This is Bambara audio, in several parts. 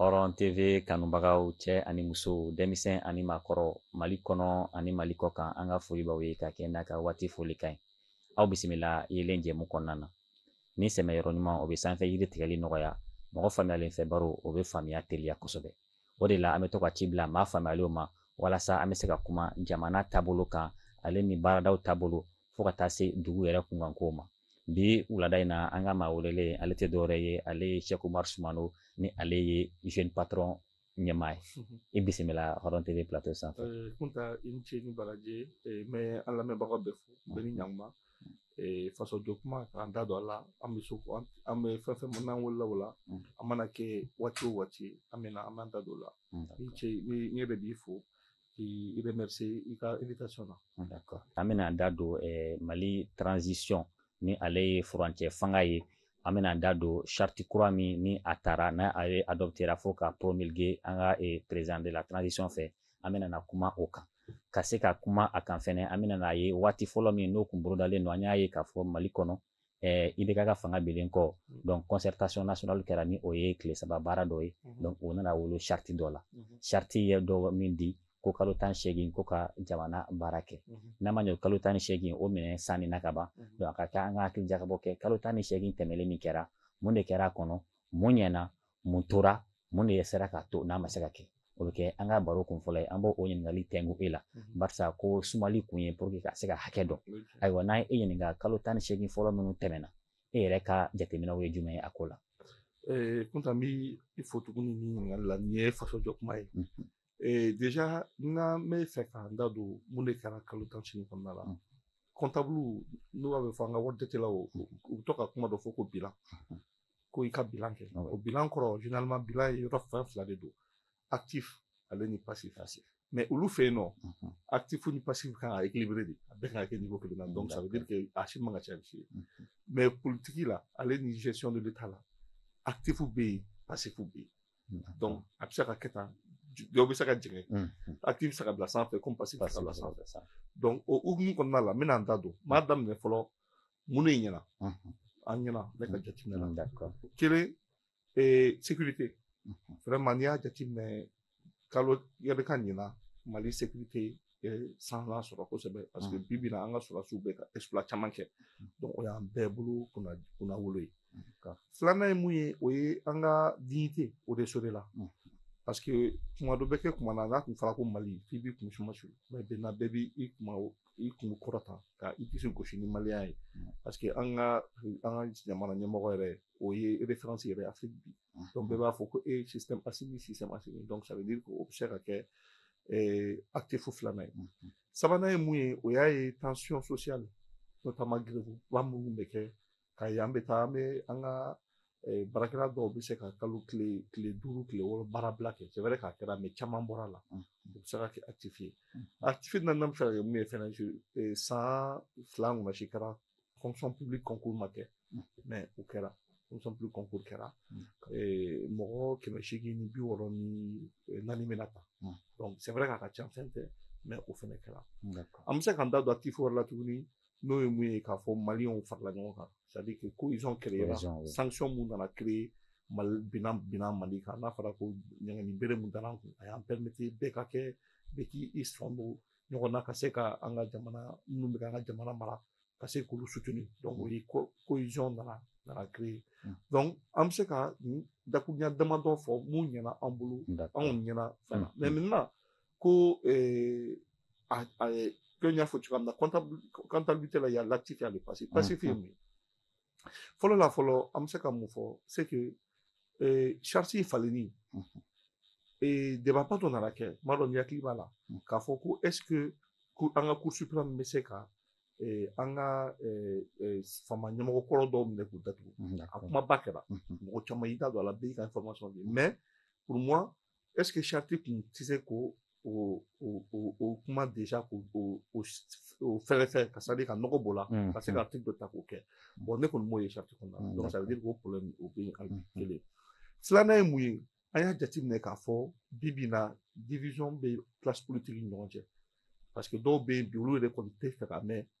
hɔrɔn tv kanubagaw cɛ ani muso denmisɛn ani maakɔrɔ mali kɔnɔ ani mali kɔkan an ka foli b'aw ye ka kɛ n'a ka waati folikan ye aw bisimila yelen jɛmu kɔnɔna na ni sɛmɛ yɔrɔ ɲuman o bɛ sanfɛ yiri tigɛli nɔgɔya mɔgɔ faamuyalen fɛ baro o bɛ faamuya teliya kosɛbɛ o de la an bɛ to ka ci bila maa faamuyalenw ma walasa an bɛ se ka kuma jamana taabolo kan ale ni baaradaw taabolo fo ka taa se dugu yɛrɛ kunkankow ma bi wulada in na an ka maa welelen ale tɛ dɔwɛrɛ ye ale ye Cheick Oumar Soumano ni ale ye jeune patron ɲɛmaa ye mhm. i bisimila Hɔrɔn TV plateau sanfɛ. Kunta i ni ce ni baraji n bɛ an lamɛnbagaw bɛɛ fo bɛɛ ni ɲankuma faso jɔ kuma k'an da don a la an bɛɛ so an bɛɛ fɛn fɛn min n'an wolola o la mm. a mana kɛ waati o waati an bɛ na an b'an da don o la i ce n yɛrɛ b'i fo. k'i remercier i ka invitation na. Ah, d'accord an bɛna an da don eh, Mali transition ni ale ye furancɛ fanga ye an bɛna an da don charte kura min ni a taara n'a adoptera fo ka promulguer an ka eh, président de la transition fɛ an bɛna na kuma o kan. ka se ka kuma a kan fɛnɛ an bɛna n'a ye waati fɔlɔ min n'o kun bolodalen don an y'a ye k'a fɔ mali kɔnɔ eh, IBK ka fanga binnen kɔ mm. donc concertation nationale kɛra ni o ye tile saba baara dɔ ye mm-hmm. donc o nana wolo charte dɔ la mm-hmm. charte ye dɔ min di ko kalo tan ni seegin ko ka jamana baara kɛ mm-hmm. n'a ma ɲɛ kalo tan ni seegin o minɛn sanni a ka ban donc a ka kan an ka hakili jakabɔ kɛ kalo tan ni seegin tɛmɛlen min kɛra mun de kɛra a kɔnɔ mun ɲɛna mun tora mun de sera k'a to n'a ma se ka kɛ o bɛ kɛ an ka baro kun fɔlɔ ye an b'o ɲininkali tɛngu e la mhm. barisa ko sumali kun ye pour que ka se ka hakɛ dɔn ayiwa n'an ye e ɲininka kalo tan ni seegin fɔlɔ minnu tɛmɛna e yɛrɛ ka jateminɛw ye jumɛn ye a ko la Kunta n b'i fo tuguni ni ɲininkali la nin ye faso jɔ kuma ye mhm. Ee déjà n'an b'a fɛ k'an da don mun de kɛra kalo tan ni seegin kɔnɔna la comptable n'u b'a fɔ an ka wari jatelaw u bɛ to ka kuma dɔ fɔ ko bilan ko i ka bilan kɛ o bilan kɔrɔ généralement bilan ye yɔrɔ fɛn fila de don actif ale ni passif mais olu fɛ yen nɔ actif o ni passif kan ka équilibrer de a bɛɛ ka kɛ niveau kelen na donc ça veut dire que a si man ka caya si ye mais politique la ale ni gestion de l'état la actif bɛ yen passif bɛ yen donc a bɛ se ka kɛ tan dɔw bɛ se ka jigin actif bɛ se ka bila sanfɛ comme passif bɛ se ka bila sanfɛ donc o hukumu kɔnɔna la n bɛna n da don n b'a daminɛ fɔlɔ mun de ɲɛna an ɲɛna ne ka jateminɛ la kelen sécurité vraiment n'i y'a jateminɛ kalo yɛrɛ ka ɲina mali sécurité san sɔrɔ kosɛbɛ parce que bi bi in na an ka sɔrɔdasiw bɛ ka exploit caman kɛ donc o y'an bɛɛ bolo kunna kunnawolo ye filanan ye mun ye o ye an ka dignité o de sɔrɔla parce que tuma dɔ bɛ kɛ kuma na n'a tun fɔra ko mali f'i b'i kun suma su mais maintenant bɛɛ b'i i kuma i kun kɔrɔta ka i disi gosi ni maliya ye parce que an ka an ka jamana ɲɛmɔgɔ yɛrɛ o ye référence yɛrɛ afiriki bi donc bɛɛ b'a fɔ ko e système asimi système asimi donc ça veut dire ko o bɛ se ka kɛ ɛɛ actif filanan ye sabanan ye mun ye o y'a ye tension sociale notamment grève ba minnu bɛ kɛ ka yan bɛ taa an bɛ an ka baarakɛla dɔw bɛ se ka kalo tile tile duuru tile wɔɔrɔ baara bila kɛ c'est vrai k'a kɛra mais caman bɔra a la o bɛ se ka kɛ actif ye actif naaninan bɛ se ka kɛ mun ye fɛnɛ san fila ɲɔgɔnna si kɛra fonction publique concours ma kɛ mm. mais o kɛra fonction publique concours kɛra mm. eh, mɔgɔ kɛmɛ seegin ni bi wɔɔrɔ ni eh, naani bɛna ta mm. donc c'est vrai k'a ka ca fɛn tɛ mais o fɛnɛ kɛra an bɛ se k'an da don actif wɛrɛ la tuguni n'o ye mun ye k'a fɔ maliyɛnw farala ɲɔgɔn kan c'est à dire que cohésion créera sanction mun nana créer mali binna binna mali kan n'a fɔra ko ɲɛgɛnni bere mun dara an kun a y'an permettre bɛɛ ka kɛ bɛɛ k'i i sɔn don ɲɔgɔn na ka se ka an ka jamana minnu bɛ an ka jamana mara ka se k'olu soutenir donc o ye cohésion nana nana créer mm. donc an bɛ se ka dakurunya damadɔ fɔ mun ɲɛna an bolo anw ɲɛna fana mm. mais maintenant ko eh, a, a, que n y'a fɔ cogoya min na comptabilité la il y a l'actif et le passif passif ye mun ye fɔlɔ la fɔlɔ an bɛ se ka mun fɔ c'est que eh, charte falenni eh, débat ba dɔ nana kɛ n m'a dɔn n'i hakili b'a la k'a fɔ ko est ce que an ka cour suprême bɛ se ka eh, an ka eh, eh, fama ɲɛmɔgɔ kɔrɔ dɔw minɛ k'u datugu a kumaba kɛra mɔgɔ caman y'i da don a la bɛɛ y'i ka information di mais pour moi est-ce que charte tun tɛ se ko o o o o kuma déjà ko o o o fɛɛrɛ fɛ ka c'est-à-dire ka nɔgɔ b'o la Mm, ka se ka article dɔ ta k'o kɛ bon ne kɔni m'o ye charte kɔnɔna Mm, na donc ça veut dire ko problème o bɛ yen hali Mm, mm. kelen filanan ye mun ye an y'a jateminɛ k'a fɔ bi bi in na division bɛ classe politique ni ɲɔgɔn cɛ parce que dɔw bɛ yen bi olu yɛrɛ kɔni tɛ fɛ ka mɛn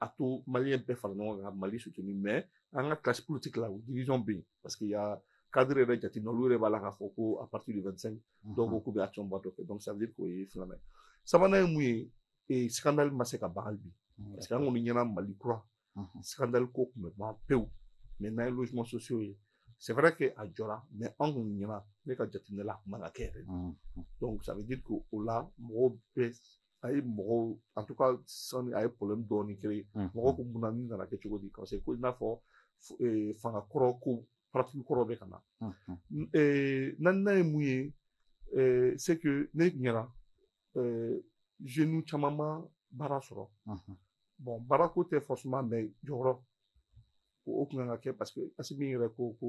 a to maliyɛn bɛɛ fara ɲɔgɔn kan mali soutenir mais an ka classe politique la division bɛ yen parce que y a cadre yɛrɛ jate olu yɛrɛ b'a la k'a fɔ ko à partir du 25 mhm. dɔw ko k'u bɛ action ba dɔ kɛ donc ça veut dire k'o ye filanan ye sabanan ye mun ye ee scandale ma se ka ban bi mhm. parce que an kɔni ɲɛna mali kura mhm. scandale ko tun bɛ ban pewu mais n'an ye logements sociaux ye c'est vrai que a jɔra mais an kɔni ɲɛna ne ka jateminɛ la a tun man ka kɛ yɛrɛ donc ça veut dire que o la mɔgɔw bɛɛ a ye mɔgɔw en tout cas sani a ye problème dɔɔni créer mɔgɔ ko mun na nin nana kɛ cogo di parce que ko i n'a fɔ fanga kɔrɔ ko pratique kɔrɔ bɛ ka na naaninan ye mun ye c'est que ne ɲɛna jeunes caman ma baara sɔrɔ bon baara ko tɛ forcément mais jɔyɔrɔ o kun kan ka kɛ parce que Asimi yɛrɛ ko ko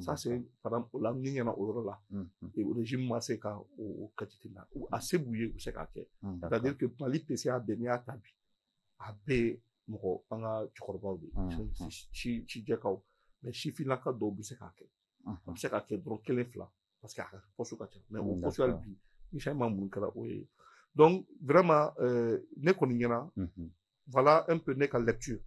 ça c'est par exemple o la ne ɲɛna o yɔrɔ la régime ma se ka o katiti la a se b'u ye u bɛ se k'a kɛ c'est à dire que Mali PCA bɛɛ n'i y'a ta bi a bɛɛ mɔgɔ an ka cɛkɔrɔbaw de ye si si jɛkaw mais sifinnaka dɔw bɛ se k'a kɛ a bɛ se k'a kɛ dɔrɔn kelen fila parce que a ka poste ka ca mais o poste hali bi ni changement mun kɛra o ye donc vraiment ne kɔni ɲɛna voilà un peu ne ka lecture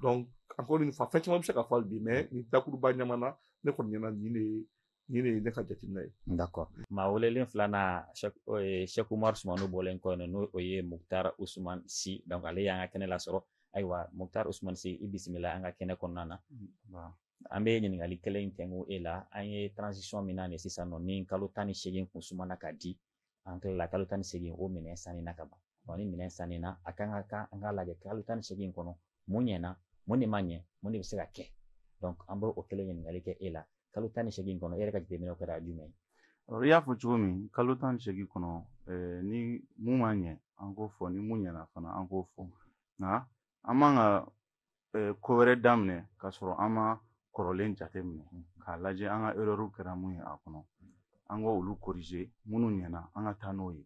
donc encore une fois fɛn caman bɛ se ka fɔ bi mais nin dakuruba ɲama na ne kɔni ɲɛna nin de ye nin de ye ne ka jateminɛ ye d'accord maa welelen filanan Sɛku Umaru Sumano bɔlen kɔ yen n'o ye Mukutari Usumani Si donc ale y'an ka kɛnɛ lasɔrɔ ayiwa Mukutari Usumani Si i bisimila an ka kɛnɛ kɔnɔna na an bɛ ɲininkali kelen in tɛnku e la an ye transition min na nin sisan nɔ ni kalo tan ni seegin kun sumana ka di an tilala kalo tan ni segin o minɛn sanni na ka ban wa ni minɛn sanni na a kan ka kan an ka lajɛ kalo tan ni segin kɔnɔ mun ɲɛna mun de ma ɲɛ mun de bɛ se ka kɛ an b'o o kelen ɲininkali kɛ e la kalo tan ni segin kɔnɔ e yɛrɛ ka jateminɛw kɛra jumɛn ye i y'a fɔ cogo min kalo tan ni segin kɔnɔ eh, ni mun ma ɲɛ an k'o fɔ ni mun ɲɛna fana an k'o fɔ nka an man ka ko wɛrɛ daminɛ ka sɔrɔ an ma kɔrɔlen jateminɛ k'a lajɛ an ka erreur kɛra mun ye a kɔnɔ an ka olu corriger minnu ɲɛna an ka taa n'o ye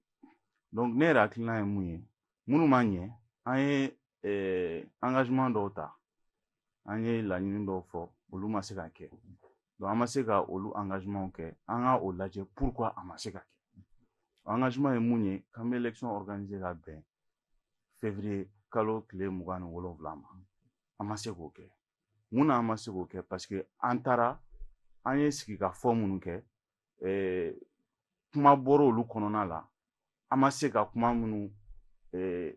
donc ne yɛrɛ hakilina ye mun ye minnu ma ɲɛ an ye engagement dɔw ta an ye laɲini dɔw fɔ olu ma se ka kɛ donc an ma se ka olu engagement kɛ an ka o lajɛ pourquoi a ma se ka kɛ engagement ye mun ye k'an bɛ élection organiser ka bɛn février kalo tile mugan ni wolonwula ma an ma se k'o kɛ mun na an ma se k'o kɛ parce que an taara an ye sigikafɔ minnu kɛ kuma bɔra olu kɔnɔna la an ma se ka kuma minnu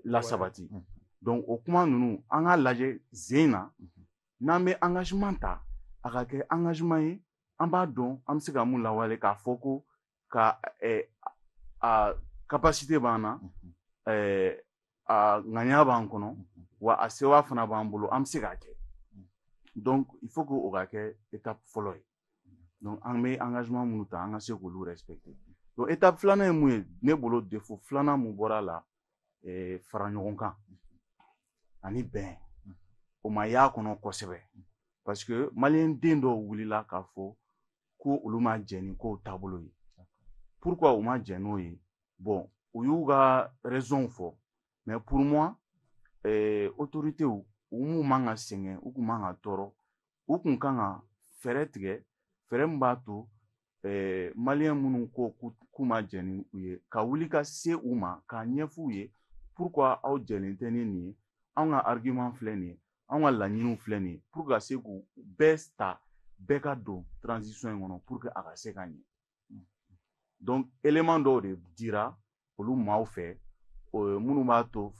lasabati donc o kuma ninnu an k'a lajɛ zen na n'an bɛ engagement ta a ka kɛ engagement ye an b'a dɔn an bɛ se ka mun lawale k'a fɔ ko ka a capacité b'an na a ŋaniya b'an kɔnɔ wa a sewa fana b'an bolo an bɛ se k'a kɛ donc il faut que o ka kɛ étape fɔlɔ ye donc an bɛ engagement minnu ta an ka se k'olu respecter donc étape filanan ye mun ye ne bolo défaut filanan mun bɔra a la fara ɲɔgɔn kan ani bɛn o ma y'a kɔnɔ kosɛbɛ parce que maliyɛn den dɔw wulila k'a fɔ ko olu ma jɛ ni kow taabolo ye pourquoi u ma jɛ n'o ye bon u y'u ka raisonw fɔ mais pour moi eh, autorités u m'u man ka sɛgɛn u kun man ka tɔɔrɔ u kun kan ka fɛɛrɛ tigɛ fɛɛrɛ min b'a to eh, maliyɛn minnu ko k'u ma jɛ ni u ye ka wuli ka se u ma k'a ɲɛf'u ye pourquoi aw jɛlen tɛ ni nin ye anw ka argument filɛ nin ye anw ka laɲiniw filɛ nin ye pour ka se k'u bɛɛ ta bɛɛ ka don transition in kɔnɔ pour que a ka se ka ɲɛ donc élément dɔw de dira olu maaw fɛ minnu b'a to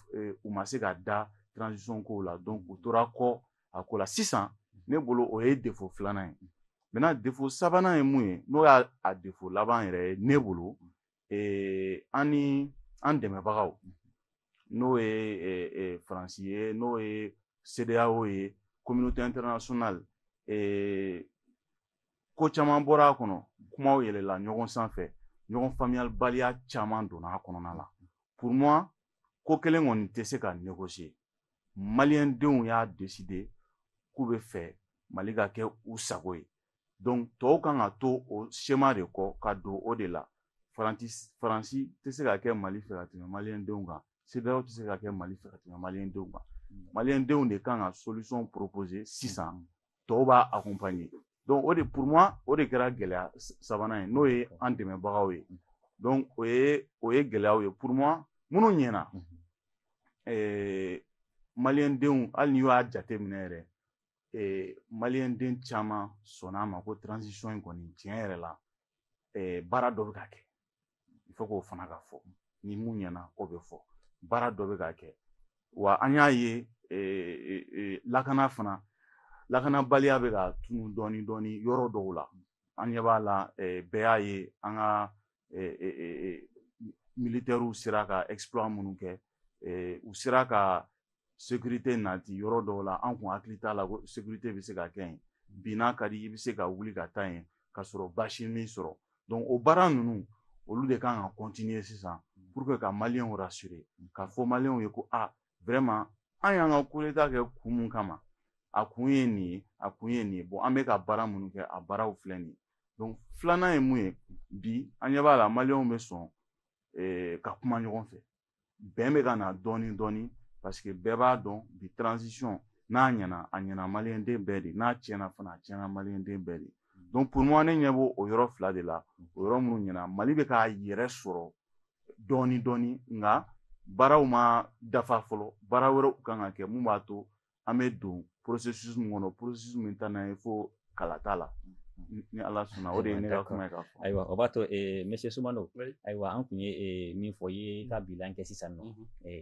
u ma se ka da transition kow la donc u tora kɔ a ko la sisan ne bolo o ye défaut filanan ye maintenant défaut sabanan ye mun ye n'o y'a défaut laban yɛrɛ ye ne bolo ee, an ni an dɛmɛbagaw n'o ye ee, ee, faransi ye n'o ye CEDEAO ye communauté internationale ee, ko caman bɔra a kɔnɔ kumaw yɛlɛla ɲɔgɔn sanfɛ ɲɔgɔn faamuyalibaliya caman donna a kɔnɔna la pour moi ko kelen kɔni tɛ se ka négocier maliyɛndenw y'a décider k'u bɛ fɛ mali ka kɛ u sago ye donc tɔw kan ka to o schéma de kɔ ka don o de la faransi faransi tɛ se ka kɛ mali fɛ ka tɛmɛ maliyɛndenw kan CEDEAO tɛ se ka kɛ mali fɛ ka tɛmɛ maliyɛndenw kan mm. maliyɛndenw de kan ka solution proposer sisan mm. tɔw b'a accompagner donc o de pour moi o de kɛra gɛlɛya sabanan ye n'o ye mm. an dɛmɛbagaw ye donc o ye o ye gɛlɛyaw ye pour moi minnu ɲɛna mm-hmm. eh, maliyɛndenw hali n'i y'a jateminɛ yɛrɛ eh, maliyɛnden caman sɔnna a ma ko transition in kɔni tiɲɛ yɛrɛ la eh, baara dɔ bɛ ka kɛ il faut k'o fana ka fɔ ni mun ɲɛna o bɛ fɔ baara dɔ bɛ ka kɛ wa an y'a ye eh, eh, lakana fana lakanabaliya bɛ ka tunu dɔɔni dɔɔni yɔrɔ dɔw la an ɲɛ b'a la eh, bɛɛ y'a ye an ka militairew sera ka exploit minnu kɛ u sera ka sécurité nati yɔrɔ dɔw la an kun hakili t'a la ko sécurité bɛ se ka kɛ yen bi n'a ka di i bɛ se ka wuli ka taa yen ka sɔrɔ basi m'i sɔrɔ donc o baara ninnu olu de kan ka continuer sisan pour que ka maliyɛnw rassurer ka fɔ maliyɛnw ye ko aa vraiment an y'an ka coup d'état kɛ kun mun kama a kun ye nin ye a kun ye nin ye bon an bɛ ka baara minnu kɛ a baaraw filɛ nin ye donc filanan ye mun ye bi an ɲɛ b'a la maliyɛnw bɛ sɔn eh, ka kuma ɲɔgɔn fɛ bɛn bɛ ka na dɔɔni dɔɔni parce que bɛɛ b'a dɔn bi transition n'a ɲɛna a ɲɛna maliyɛnden bɛɛ de n'a tiɲɛna fana a tiɲɛna maliyɛnden bɛɛ de donc pour moi ne ɲɛ b'o o yɔrɔ fila de la o yɔrɔ minnu ɲɛna mali bɛ k'a yɛrɛ sɔrɔ dɔɔni dɔɔni nka baaraw ma dafa fɔlɔ baara wɛrɛw kan ka kɛ mun b'a to an bɛ don processus min kɔnɔ processus min ta n'an ye fo kala t'a la ni ala sɔnna o de ye ne ka kuma ye k'a fɔ ayiwa o b'a to monsieur sumano ayiwa an tun ye min fɔ i ye ka bilan kɛ sisan nɔ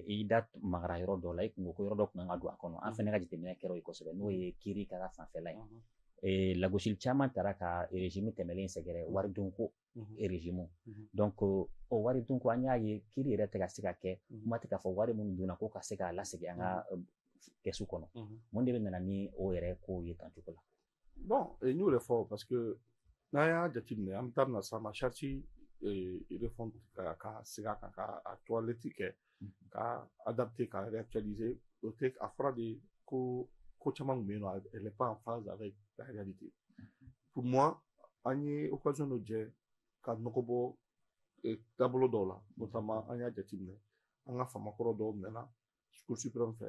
i da magara yɔrɔ dɔ la i kun ko ko yɔrɔ dɔ kun kan ka don a kɔnɔ an fana ka jateminɛ kɛra o ye kosɛbɛ n'o ye kiri ka fanfɛla ye lagosili caman taara ka régime tɛmɛlen sɛgɛrɛ waridunko régime donc o waridunko an y'a ye kiri yɛrɛ tɛ ka se ka kɛ kuma tɛ k'a fɔ wari minnu dunna ko ka se k'a lasegin an ka kɛsu kɔnɔ mun de bɛ nana ni o yɛrɛ kow ye tan cogo la bon n y'o de fɔ parce que n'an y'a jateminɛ an bɛ taa na sa ma charte réforme ka ka segin a kan ka a toilette kɛ ka adapter ka réactualiser o tɛ a fɔra de ko ko caman tun bɛ yen nɔ elle n'est pas en phase avec la réalité pour moi an ye occasion dɔ jɛ ka nɔgɔ bɔ eh, taabolo dɔw la notamment an y'a jateminɛ an ka famakɔrɔ dɔw minɛna cour suprême fɛ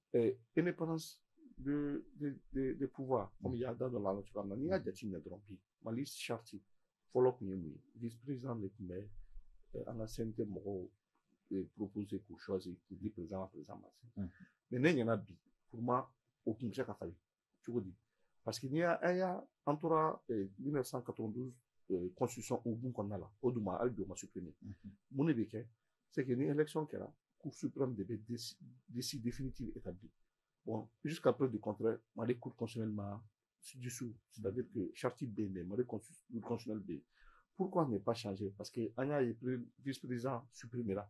euh, indépendance de, de, de, de pouvoir comme i y'a da don a la cogoya min na n'i y'a jateminɛ dɔrɔn bi mali charte fɔlɔ tun ye mun ye vice président de tun bɛ euh, an ka cnt mɔgɔw euh, proposer k'u choisir k'u di président ma président ma se mais ne ɲɛna bi pour moi o tun bɛ se ka falen cogo di parce que n'i y'a an y'a an tora 1992 constitution hukumu kɔnɔna la o dun ma hali bi o ma supprimer mun de bɛ kɛ c'est que ni élection kɛra cour suprême de bɛ liste définitive établir bon jusqu'à preuve du contraire Mali cour constitutionnelle ma dissous c'est-à-dire que charte bɛ yen dɛ Mali cour constitutionnelle bɛ yen pourquoi ne pas changer parce que an y'a ye vice-président supprimera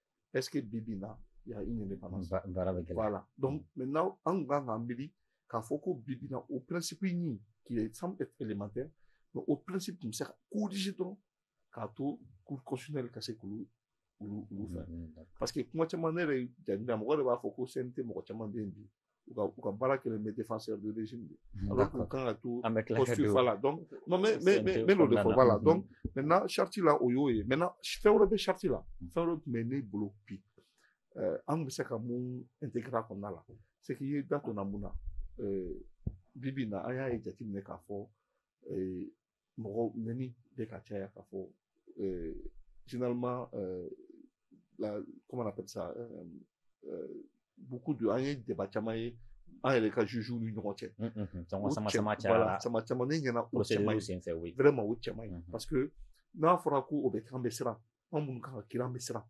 est-ce que bi bi in na il y a une indépendance ba- baara bɛ gɛlɛya voilà donc maintenant an tun kan k'an miiri k'a fɔ ko bi bi in na o principe ɲin qui semble être élémentaire mais o principe tun bɛ se ka corriger dɔrɔn k'a to cour constitutionnelle ka se k'olu olu olu fɛn Mhm, d'accord. parce que kuma caman ne yɛrɛ jate la mɔgɔ de b'a fɔ ko CNT mɔgɔ caman bɛ yen bi u ka u ka baara kɛlen bɛ défenseur de régime de alors que u kan ka to posture voilà donc non mais mais mais mais n'o de fɔ voilà donc maintenant charte la o y'o ye maintenant fɛn wɛrɛ bɛ charte la fɛn wɛrɛ tun bɛ ne bolo bi an bɛ se ka mun intégrer a kɔnɔna la c'est que i ye da donna mun na bi bi in na an y'a ye jateminɛ k'a fɔ mɔgɔ nɛni bɛ ka caya k'a fɔ euh, généralement euh, la comment on appelle ça euh, euh, beaucoup de an ye débat caman ye an yɛrɛ ka jugew ni ɲɔgɔn cɛ mm, mm, mm. caman sama sama cayara voilà sama caman ne ɲɛna o cɛ man ɲi vraiment o cɛ man ɲi parce que n'a fɔra ko o bɛ k'an bɛ siran an minnu kan ka kiiri an bɛ siran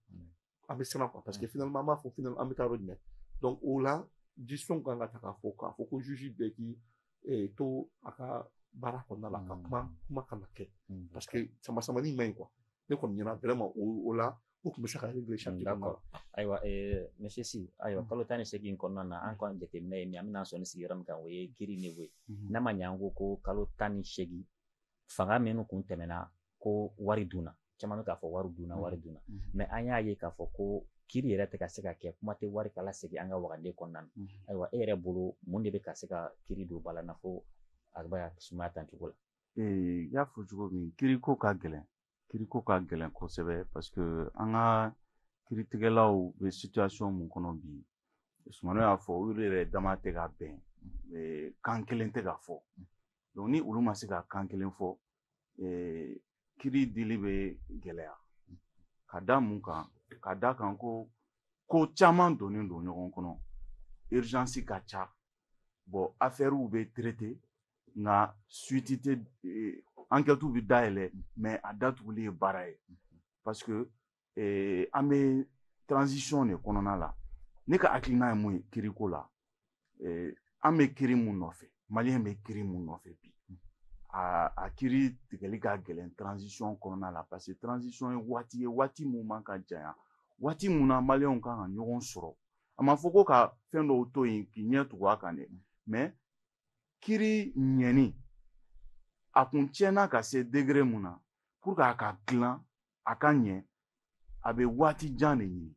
an bɛ siran quoi parce que finalement an b'a fɔ finalement an bɛ taa yɔrɔ jumɛn donc o la décision kan ka ta k'a fɔ k'a fɔ ko juge bɛɛ k'i eh, to a ka baara kɔnɔna la ka kuma kuma kana kɛ parce que sama samani man ɲi quoi ne kɔni ɲɛna vraiment o o la o tun bɛ se ka régler charte kɔnɔna la ayiwa eh, monsieur si ayiwa kalo tan ni seegin kɔnɔna na an kɔni jateminɛ ye min an bɛna sɔnin sigi yɔrɔ min kan o ye kiri niveau ye n'a ma ɲɛ an ko ko kalo tan ni seegin fanga minnu kun tɛmɛna ko wari dunna caman bɛ k'a fɔ wari dunna wari mm-hmm. dunna mm-hmm. mais an y'a ye k'a fɔ ko kiri yɛrɛ tɛ ka se ka kɛ kuma tɛ wari ka lasegin an ka wagande kɔnɔna na mm-hmm. ayiwa e yɛrɛ bolo mun de bɛ ka se ka kiri don balan na fo a bɛ ka sumaya tan cogo la i y'a fɔ cogo min kiri ko ka gɛlɛn kiri ko ka gɛlɛn kosɛbɛ parce que an ka kiritigɛlaw bɛ situation mun kɔnɔ bi sumano y'a fɔ olu yɛrɛ dama tɛ ka bɛn kan kelen tɛ ka fɔ donc ni olu ma se ka kan kelen fɔ kiri dili bɛ gɛlɛya ka da mun kan ka da kan ko ko caman donnen don ɲɔgɔn kɔnɔ urgence ka ca bon afɛriw bɛ traiter nka suite tɛ enquêtes bɛ dayɛlɛ mais a datuguli ye baara ye parce que ee, an bɛ transition de kɔnɔna la ne ka hakilina ye mun ye kiriko la ee, an bɛ kiri mun nɔfɛ maliyɛn bɛ kiri mun nɔfɛ bi a a kiri tigɛli ka gɛlɛn transition kɔnɔna la parce que transition ye waati ye waati mun man ka janya waati mun na maliyɛnw kan ka ɲɔgɔn sɔrɔ a ma fɔ ko ka fɛn dɔw to yen k'i ɲɛ tugu a kan dɛ mais kiri ɲɛni a kun tiɲɛna ka se degré mun na pour que a ka dilan a ka ɲɛ a bɛ waati jan de ɲini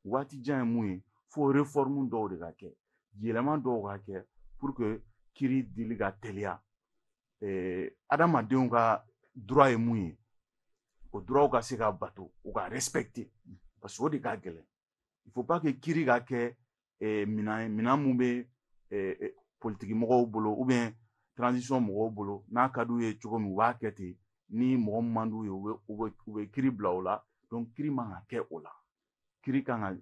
waati jan ye mun ye fo réforme dɔw de ka kɛ yɛlɛma dɔw ka kɛ pour que kiri dili ka teliya adamadenw ka droit ye mun ye o droitw ka se ka bato u ka respecter parce que o de ka gɛlɛn il faut pas que kiri ka kɛ eh, minan ye minan mun bɛ eh, eh, politiki mɔgɔw bolo ou bien transition mɔgɔw bolo n'a ka d'u ye cogo min u b'a kɛ ten ni mɔgɔ min man d'u ye u bɛ u bɛ u bɛ kiri bila o la donc kiri man ka kɛ o la kiri kan ka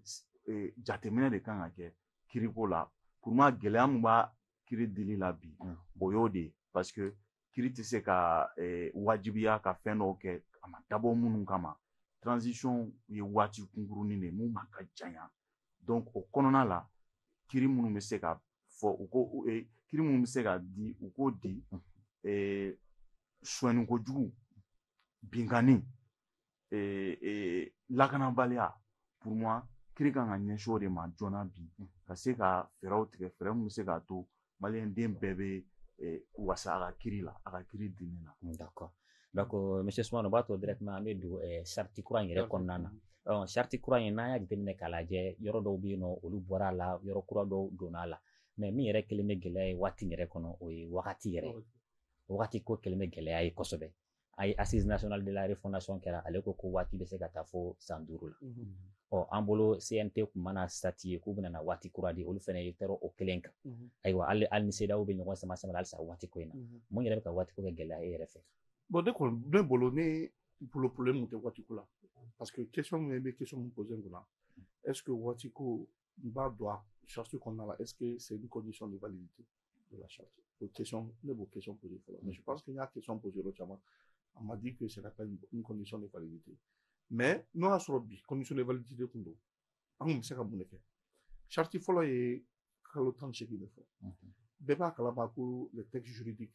eh, jateminɛ de kan ka kɛ kiriko la pour moi gɛlɛya min b'a kiri dili la bi o y'o de ye parce que kiri tɛ se ka wajibiya ka fɛn dɔw kɛ a ma dabɔ minnu kama transition ye waati kunkurunnin de mun man ka janya donc o kɔnɔna la kiri minnu bɛ se ka fɔ u ko kiri minnu bɛ se ka di u k'o di sonyani kojugu binkanni lakanabaliya pour moi kiri ka kan ka ɲɛsin o de ma joona bi ka se ka fɛɛrɛw tigɛ fɛɛrɛ min bɛ se k'a to maliyɛnden bɛɛ bɛ wasa a ka kiri la a ka kiri dili la. d'accord donc monsieur Sumano o b'a to directement an bɛ don charte kura in yɛrɛ kɔnɔna na ɔ charte kura in n'an y'a jateminɛ k'a lajɛ yɔrɔ dɔw bɛ yen nɔ olu bɔra a la yɔrɔ kura dɔw donna a la mais min yɛrɛ kɛlen bɛ gɛlɛya ye waati yɛrɛ kɔnɔ o ye wagati yɛrɛ wagati ko kɛlen bɛ gɛlɛya ye kosɛbɛ a ye assise nationale de la refondation kɛra ale ko ko waati bɛ se ka taa fo san duuru la ɔ an bolo CNT tun mana statuer k'u bɛna na waati kura di olu fana ye tɔɔrɔ o kelen kan ayiwa hali Mali ni CEDEAO bɛ ɲɔgɔn sama sama halisa waati ko in na mun yɛrɛ bɛ ka waati ko kɛ gɛlɛya e yɛrɛ fɛ bon ne kɔni ne bolo ne bolo problème tɛ waati ko la parce que question min bɛ question min poser kunna est ce que waati ko n b'a dɔn a charte kɔnɔna la est ce que c'est une condition de validité de la charte o question ne b'o question poser fɔlɔ mais je pense que n y'a question poser yɔrɔ caman on m'a dit que c'est pas une condition de validité mais n'o y'a sɔrɔ bi condition de validité tun don an tun bɛ se ka mun de kɛ charte fɔlɔ ye kalo tan ni seegin de fɔ bɛɛ b'a kalama ko le texte juridique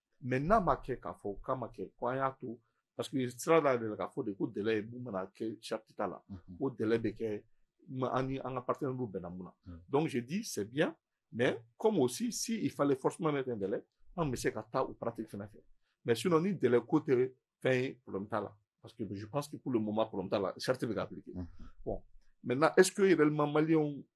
mais n'a ma kɛ k'a fɔ k'a ma kɛ ko an y'a to parce que sira la de la k'a fɔ de ko délai ye mun mana kɛ charte ta la ko délai bɛ kɛ an ni an ka partenaire dɔw bɛnna mun na donc je dis c'est bien mais comme aussi si il fallait forcément mettre un délai an bɛ se ka taa o pratique fana fɛ mais sinon ni délai ko tɛ fɛn ye problème t'a la parce que je pense que pour le moment problème t'a la charte bɛ ka appliquer bon maintenant est ce que réellement maliyɛnw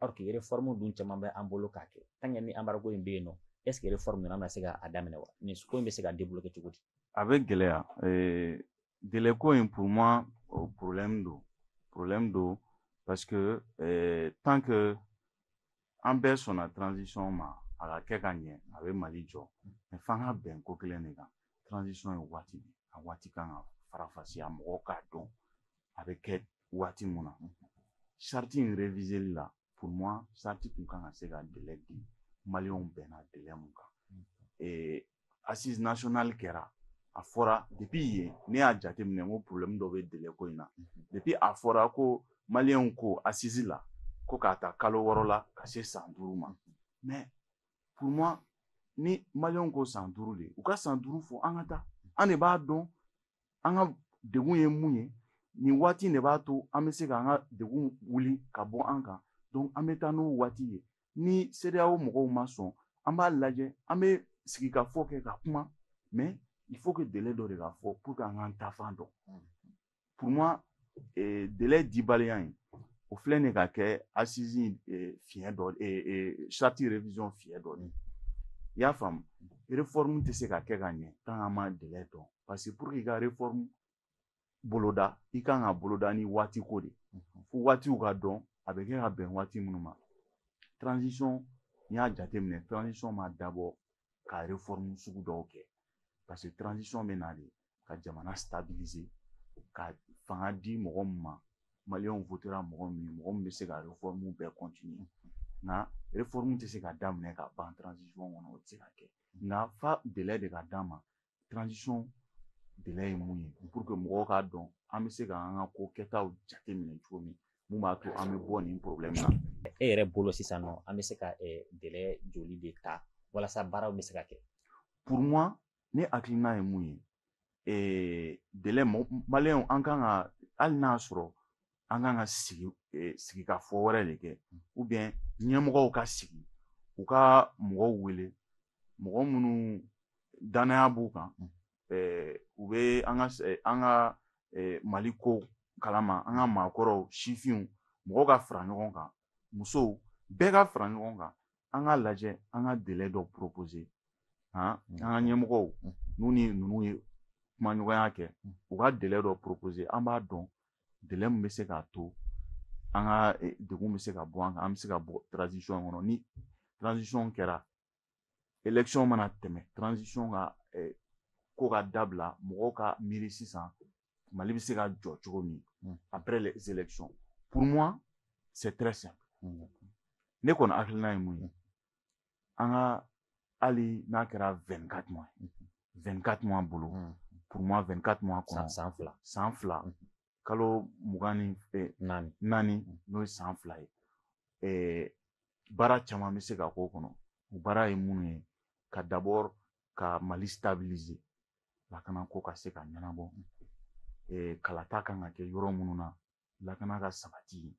alors que réforme dun caman bɛ an bolo k'a kɛ tant que ni embargo in bɛ yen nɔ est ce que réforme ninnu an bɛna se k'a daminɛ wa nin ko in bɛ se ka débloquer cogo di a bɛ gɛlɛya délai ko in pour moi o problème don problème don parce que tant que an bɛɛ sɔnna transition ma a ka kɛ ka ɲɛ a bɛ mali jɔ mais f'an ka bɛn ko kelen de kan transition ye waati de a waati kan ka faranfasiya mɔgɔw k'a dɔn a bɛ kɛ waati mun na charte in reviseli la pour moi charte tun kan ka se ka délai di maliyɛnw bɛnna délai mun kan assise nationale kɛra a fɔra depuis yen ne y'a jateminɛ n ko problème dɔ bɛ délai ko in na depuis a fɔra ko maliyɛnw ko assise la ko k'a ta kalo wɔɔrɔ la ka se san duuru ma mais pour moi ni maliyɛnw ko san duuru de u ka san duuru fɔ an ka taa an de b'a dɔn an ka degun ye mun ye nin waati in de b'a to an bɛ se k'an ka degun wuli ka bɔ an kan donc an bɛ taa n'o waati ye ni CEDEAO mɔgɔw ma sɔn an b'a lajɛ an bɛ sigikafɔ kɛ ka kuma mais il faut que délai dɔ de ka fɔ pour que an k'an taafan dɔn pour moi eh, délai dibaliya in o filɛ nin ka kɛ assise eh, fiɲɛ dɔ eh, eh, charte révision fiɲɛ dɔ de ye i y'a faamu réforme tɛ se ka kɛ ka ɲɛ tant an ma délai dɔn parce que pour que i ka réforme boloda i kan ka boloda ni waati ko de fo waatiw ka dɔn a bɛ kɛ ka bɛn waati minnu ma transition n'i y'a jateminɛ transition ma dabɔ ka réforme sugu dɔw kɛ parce que transition bɛ na de ka jamana stabiliser ka fanga di mɔgɔ min ma maliyɛnw votera mɔgɔ min ye mɔgɔ min bɛ se ka réforme bɛɛ continuer nka réforme tɛ se ka daminɛ ka ban transition kɔnɔ o tɛ se ka kɛ nka fo délai de ka d'a ma transition délai ye mun ye pour que mɔgɔw k'a dɔn an bɛ se ka an ka ko kɛtaw jateminɛ cogo min mun b'a to an bɛ bɔ nin problème na. e yɛrɛ bolo sisan nɔ an bɛ se ka délai joli de ta walasa baaraw bɛ se ka kɛ. pour moi ne hakilina ye mun ye délai maliyɛnw an kan ka hali n'a sɔrɔ an kan ka sigi eh, sigikafɔ wɛrɛ de kɛ ou bien ɲɛmɔgɔw ka sigi u ka mɔgɔw wele mɔgɔ minnu dannaya b'u kan eh, u bɛ an ka eh, an ka mali ko kalama an ka maakɔrɔw sifinw mɔgɔw ka fara ɲɔgɔn kan musow bɛɛ ka fara ɲɔgɔn kan an ka lajɛ an ka délai dɔ proposer an ka ɲɛmɔgɔw n'u ni ninnu ye kumaɲɔgɔnya kɛ u ka délai dɔ proposer an b'a dɔn délai min bɛ se k'a to an ka eh, degun bɛ se ka bɔ an kan an bɛ se ka bɔ transition kɔnɔ ni transition kɛra élection mana tɛmɛ transition ka eh, ko ka dabila mɔgɔw ka miiri sisan mali bɛ se ka jɔ cogo min hmm. après les élections pour moi c'est très simple hmm. ne kɔni hakilina ye mun ye an ka hali n'a kɛra vingt-quatre mois vingt-quatre mois bolo hmm. pour moi vingt-quatre mois kɔnɔ san fila san fila hmm. kalo mugan ni eh, naani naani hmm. n'o ye san fila ye eh, baara caman bɛ se ka k'o kɔnɔ o baara ye minnu ye ka d'abord ka mali stabiliser lakana ko ka se ka ɲɛnabɔ eh, kalata kan ka kɛ yɔrɔ minnu na lakana ka sabati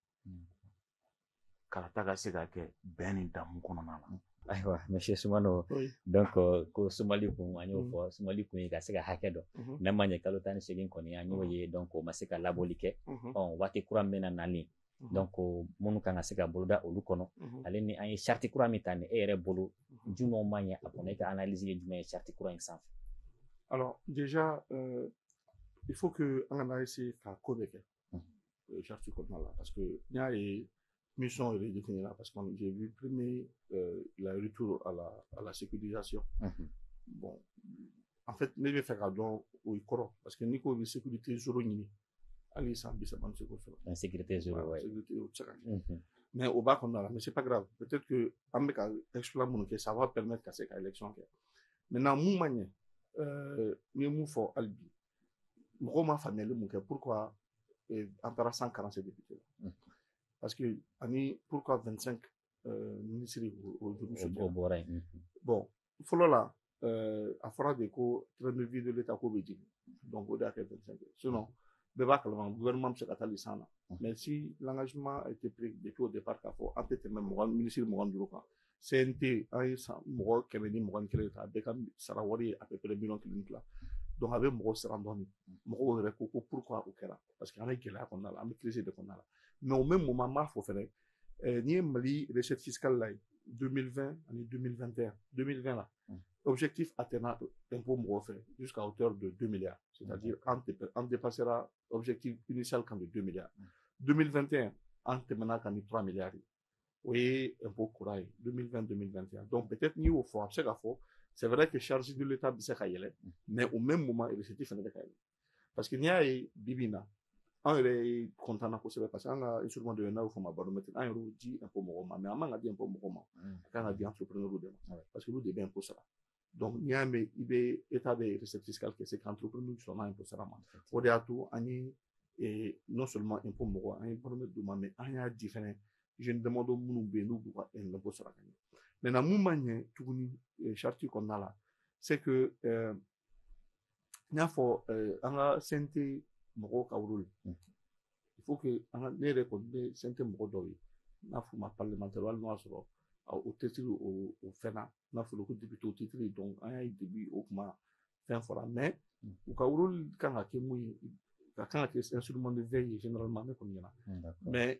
kalata ka se ka kɛ bɛn ni damu kɔnɔna na ayiwa monsieur sumano donc ko sumali kun an y'o fɔ sumali kun ye ka se ka hakɛ dɔn n'a ma ɲɛ kalo tan ni segin kɔni an y'o ye donc o ma se ka labɔli kɛ ɔ waati kura min bɛna nali donc minnu kan ka se ka boloda olu kɔnɔ ale ni an ye charte kura min ta ni e yɛrɛ bolo jumɛnw ma ɲɛ a kɔnɔ e ka analyse ye jumɛn ye charte kura in sanfɛ alors déjà euh, il faut que an kana essayer ka ko bɛɛ kɛ euh, charte kɔnɔna la parce que n y'a ye mission yɛrɛ définie parce que j'ai vu premier euh, la retour à la à la sécurisation bon en fait ne bɛ fɛ ka dɔn o ye kɔrɔ parce que n'i ko bɛ sécurité zéro ɲini hali san bi saba an tɛ se k'o sɔrɔ insécurité zéro ouais sécurité o tɛ se ka kɛ mais o b'a kɔnɔna la mais c'est pas grave peut-être que an bɛ ka exploit minnu kɛ ça va permettre ka se ka élection kɛ maintenant mun ma ɲɛ euh, n ye mun fɔ hali bi mɔgɔw ma faamuyali mun kɛ pourquoi euh, an taara 147 députés la mm. parce que ani pourquoi 25 euh, ministre o juru sɔrɔ bɔra yen mm-hmm. bon fɔlɔ la euh, a fɔra de ko train de vie de l'état ko bɛ jigin donc o de y'a kɛ 25 ye sinon bɛɛ b'a kalama gouvernement bɛ se ka taa lisan na mm. mais si l'engagement a été pris depuis au départ k'a fɔ an tɛ tɛmɛ mɔgɔ minisiri mugan ni duuru kan CNT an ye cent mɔgɔ kɛmɛ ni mugan ni kelen ta a bɛɛ ka sara wari ye à peu près miliyɔn kelen tila donc a bɛ mɔgɔ siran dɔɔni mɔgɔw yɛrɛ ko ko pourquoi o kɛra parce que an bɛ gɛlɛya kɔnɔna la an bɛ crise de kɔnɔna la mais au même moment n b'a fɔ fɛnɛ n'i ye Mali recette fiscale lajɛ 2020 ani 2021 2020 la objectif atteint impôt mɔgɔw fɛ jusqu'à hauteur de 2 milliards c'est-à-dire an dépassera objectif initial kan de 2 milliards 2021 an tɛmɛna kan ni 3 milliards ye o ye impôt kura ye 2020 2021 donc peut-être n'i y'o fɔ a bɛ se ka fɔ c'est vrai que charge de l'État bɛ se ka yɛlɛ mais au même moment recette fana bɛ ka yɛlɛ parce que n'i y'a ye bi bi in na an yɛrɛ content na kosɛbɛ parce que an ka instrument dɔ ye n'a bɛ fɔ o ma baromètre an yɛrɛ y'o di impôt mɔgɔw ma mais an man ka di impôt mɔgɔw ma a kan ka di entrepreneur de ma parce que olu de bɛ impôt sara Donc n'i y'a mɛn i bɛ état de recette fiscale kɛ c'est qu'entrepreneur sɔnna impôt sara ma o de y'a to an ye eh, non seulement impôt mɔgɔw an ye baromètre d'u ma mais an y'a di fɛnɛ jeune damadɔ minnu bɛ yen n'u b'u ka impôt sara ka ɲɛ maintenant mun ma ɲɛ tuguni eh, charte kɔnɔna la c'est que euh, n y'a fɔ an ka CNT mɔgɔw ka rôle il faut que an ka ne yɛrɛ kɔni bɛ CNT mɔgɔ dɔw ye n'a fɔ ma parlementaire hali n'o y'a sɔrɔ o titre o o fɛn na n'a fɔra ko député o titre donc an y'a ye depuis o kuma fɛn fɔra mais u ka rôle kan ka kɛ mun ye ka kan ka kɛ instrument de veille ye généralement ne kɔni ɲɛna mais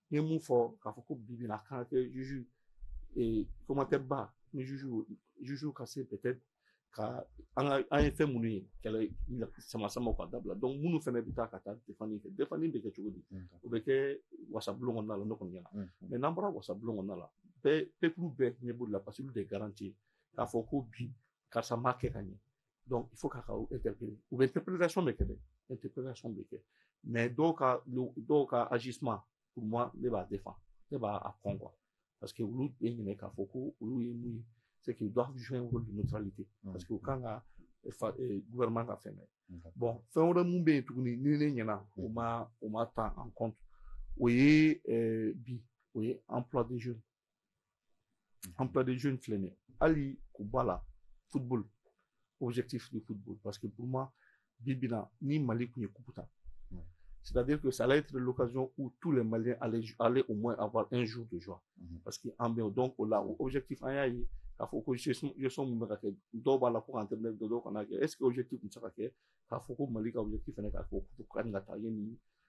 n ye mun fɔ k'a fɔ ko bi bi na kan ka kɛ juju commentaire ba ni juju juju ka se peut-être ka an ka an ye fɛn minnu ye kɛlɛ sama samaw ka dabila donc minnu fana bɛ taa ka taa defani kɛ defani bɛ kɛ cogo di o bɛ kɛ wasabulon kɔnɔna la ne kɔni ɲɛna mais n'an bɔra wasabulon kɔnɔna la bɛɛ peuple bɛɛ ɲɛ b'o la parce que olu de garanti k'a fɔ ko bi karisa m'a kɛ ka ɲɛ Donc, il faut k'a ka interpeller. U bɛ interpellation de kɛ dɛ, interpellation bɛ kɛ. Mais dɔw ka dɔw ka agissement, pour moi, ne b'a défendre, ne b'a a kɔn quoi. Parce que olu bɛ ɲinɛ k'a fɔ ko olu ye mun ye, c'est qu'ils doivent jouer un rôle de neutralité. Mm. Parce que u kan ka eh, gouvernement ka fɛn bɛɛ. Bon, fɛn wɛrɛ mun bɛ yen tuguni ni ne ɲɛna, u mm. ma u ma ta en compte, o ye eh, bi, o ye emploi des jeunes. emploi des jeunes filɛ nin ye hali k'o b'a la football objectif du football parce que pour moi bi bi in na ni mali tun ye kupu ta c'est-à-dire que ça allait être l'occasion où tous les maliens allaient, allaient au moins avoir un jour de joie mm -hmm. parce que en bien donc o la o objectif an y'a ye k'a fɔ ko gestion min bɛ ka kɛ dɔw b'a la ko ka entraîneur dɔ dɔw kana kɛ est ce que objectif tun tɛ se ka kɛ k'a fɔ ko mali ka objectif fana k'a fɔ ko ka nin ka taa ye nin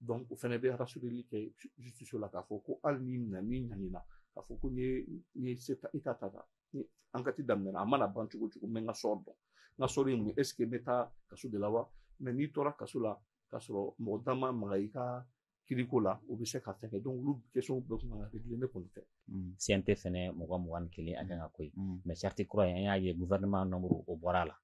donc o fɛnɛ bɛ rassureli kɛ justice la k'a fɔ ko hali ni na ni ɲanina k'a fɔ ko n ye n ye se ta état ta ta ni enquête daminɛna a mana ban cogo cogo n bɛ n ka sɔrɔ dɔn n ka sɔrɔ ye mun ye est ce que n bɛ taa kaso de la wa mais n'i tora kaso la k'a sɔrɔ mɔgɔ da ma maga i ka kiriko la o bɛ se ka fɛn kɛ donc olu question bɛɛ kun kan ka réglé ne kɔni fɛ CNT fɛnɛ mɔgɔ mugan ni kelen a kan ka ko ye mais charte kura in an y'a ye gouvernement nombre o bɔra a la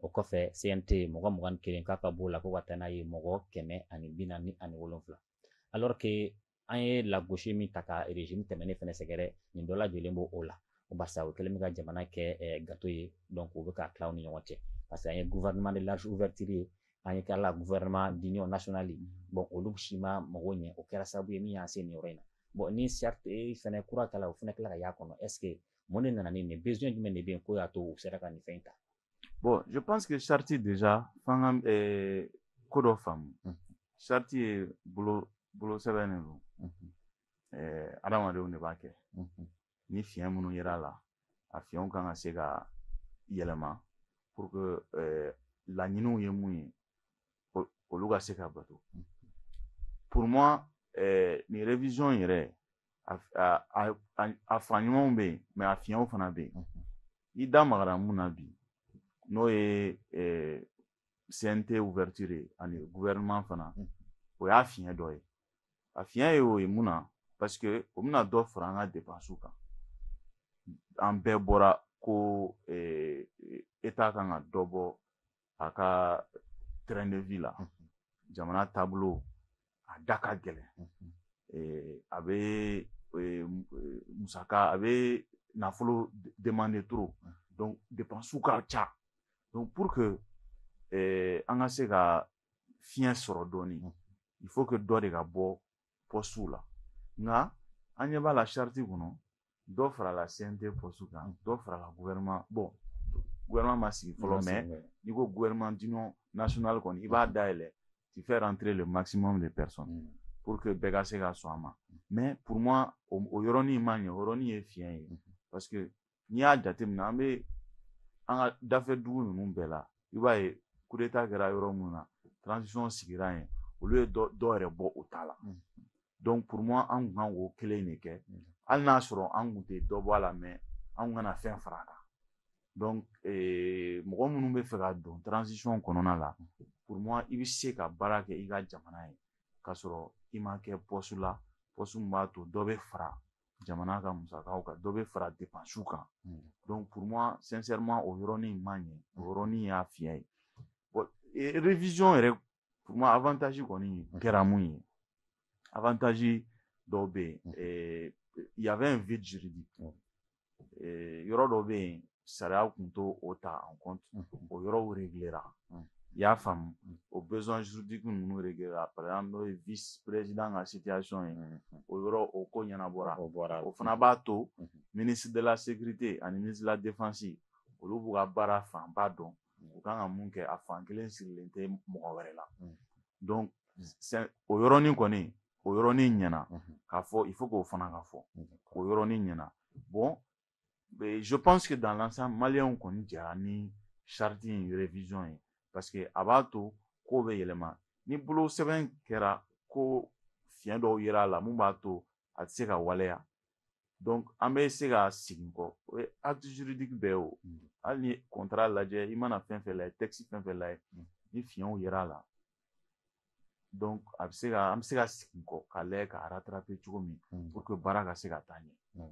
o kɔfɛ CNT mɔgɔ mugan ni kelen k'a ka b'o la ko ka taa n'a ye mɔgɔ kɛmɛ ani bi naani ani wolonfila alors que an ye lagosi min ta ka régime tɛmɛnen fɛnɛ sɛgɛrɛ nin dɔ lajɔlen b'o o la barisa o kɛlen bɛ ka jamana kɛ eh, gâteau ye donc o bɛ ka tila u ni ɲɔgɔn cɛ parce que an ye gouvernement de large ouverture ye an ye kɛra gouvernement d'union nationale bon olu si ma mago ɲɛ o kɛra sababu ye min y'an se nin yɔrɔ in na bon ni charte fɛnɛ kura kɛla o fɛnɛ kila ka y'a kɔnɔ est ce que Mun de nana ni nin besoin jumɛn de bɛ yen k'o y'a to u sera ka nin fɛn in ta bon je pense que charte déjà f'an ka euh, ko dɔ faamu charte ye bolo bolo sɛbɛn de don euh, adamadenw de b'a kɛ ni fiɲɛ minnu yera a la a fiɲɛw kan ka se ka yɛlɛma pour que euh, laɲiniw ye mun ye olu ka se ka bato pour moi euh, nin révision yɛrɛ a fan ɲumanw bɛ yen mais a fiɲɛw fana bɛ yen i da magara min na bi n'o ye CNT ouverture ani gouvernement fana o y'a fiɲɛ dɔ ye a fiɲɛ ye o ye mun na parce que o bɛna dɔ fara an ka depansiw kan an bɛɛ bɔra ko état kan ka dɔ bɔ a ka train de vie la jamana taabolo a da ka gɛlɛn a bɛ musaka a bɛ nafolo demander trop donc dépenses ka ca donc pour que an ka se ka fiɲɛ sɔrɔ dɔɔnin il faut que dɔ de ka bɔ postew la nka an ɲɛ b'a la charte kɔnɔ dɔ farala CNT poste kan dɔ farala gouvernement bon gouvernement ma sigi fɔlɔ mais n'i ko gouvernement d'union nationale kɔni i b'a dayɛlɛn tu fais entrer le maximum de personnes mm. pour que bɛɛ ka se ka sɔn a ma mais pour moi o yɔrɔnin ma ɲɛ o yɔrɔnin ye fiɲɛ ye mm-hmm. parce que n'i y'a jateminɛ an bɛ an ka dafɛ dugu ninnu bɛɛ la i b'a ye kudeta kɛra yɔrɔ minnu na transition sigira yen olu ye dɔ yɛrɛ bɔ o ta la donc pour moi an kun kan k'o kelen de kɛ hali n'a sɔrɔ an kun tɛ dɔ bɔ a la mais an kana fɛn fara a kan donc eh, mɔgɔ minnu b'a fɛ ka don transition kɔnɔna la pour moi i bɛ se ka baara kɛ i ka jamana ye k'a sɔrɔ i ma kɛ poste la poste min b'a to dɔ bɛ fara jamana ka musakaw kan dɔ bɛ fara depansiw kan donc pour moi sincèrement o yɔrɔnin ma ɲɛ o yɔrɔnin y'a fiɲɛ ye bon révision yɛrɛ pour moi avantage kɔni kɛra mun ye avantage dɔw bɛ yen il y avait un vide juridique yɔrɔ dɔ bɛ yen sariya kun t'o ta en compte o yɔrɔw réglera i y'a faamu o besoin juridique ninnu réglera par exemple n'o ye vice président ka situation ye o yɔrɔ o ko ɲɛnabɔra o fana b'a to ministre de la sécurité ani ministre de la défense olu b'u ka baara fanba dɔn u kan ka mun kɛ a fan kelen sirilen tɛ mɔgɔ wɛrɛ la o yɔrɔnin kɔni o yɔrɔnin ɲɛna k'a fɔ il faut k'o fana ka fɔ o yɔrɔnin ɲɛna bon Mais je pense que dans l'ensemble maliyɛnw kɔni jɛra ni charte in révision ye parce que a b'a to kow bɛ yɛlɛma ni bolo sɛbɛn kɛra ko fiɲɛ dɔw yera a la min b'a to a tɛ se ka waleya donc an bɛ se ka segin kɔ o ye acte juridique bɛɛ ye o hali ni contrat lajɛ i mana fɛn fɛn lajɛ texte fɛn fɛn lajɛ ni fiɲɛw yera a la a bɛ se ka an bɛ se ka segin kɔ k'a lajɛ k'a rattraper cogo min pour que baara ka se ka taa ɲɛ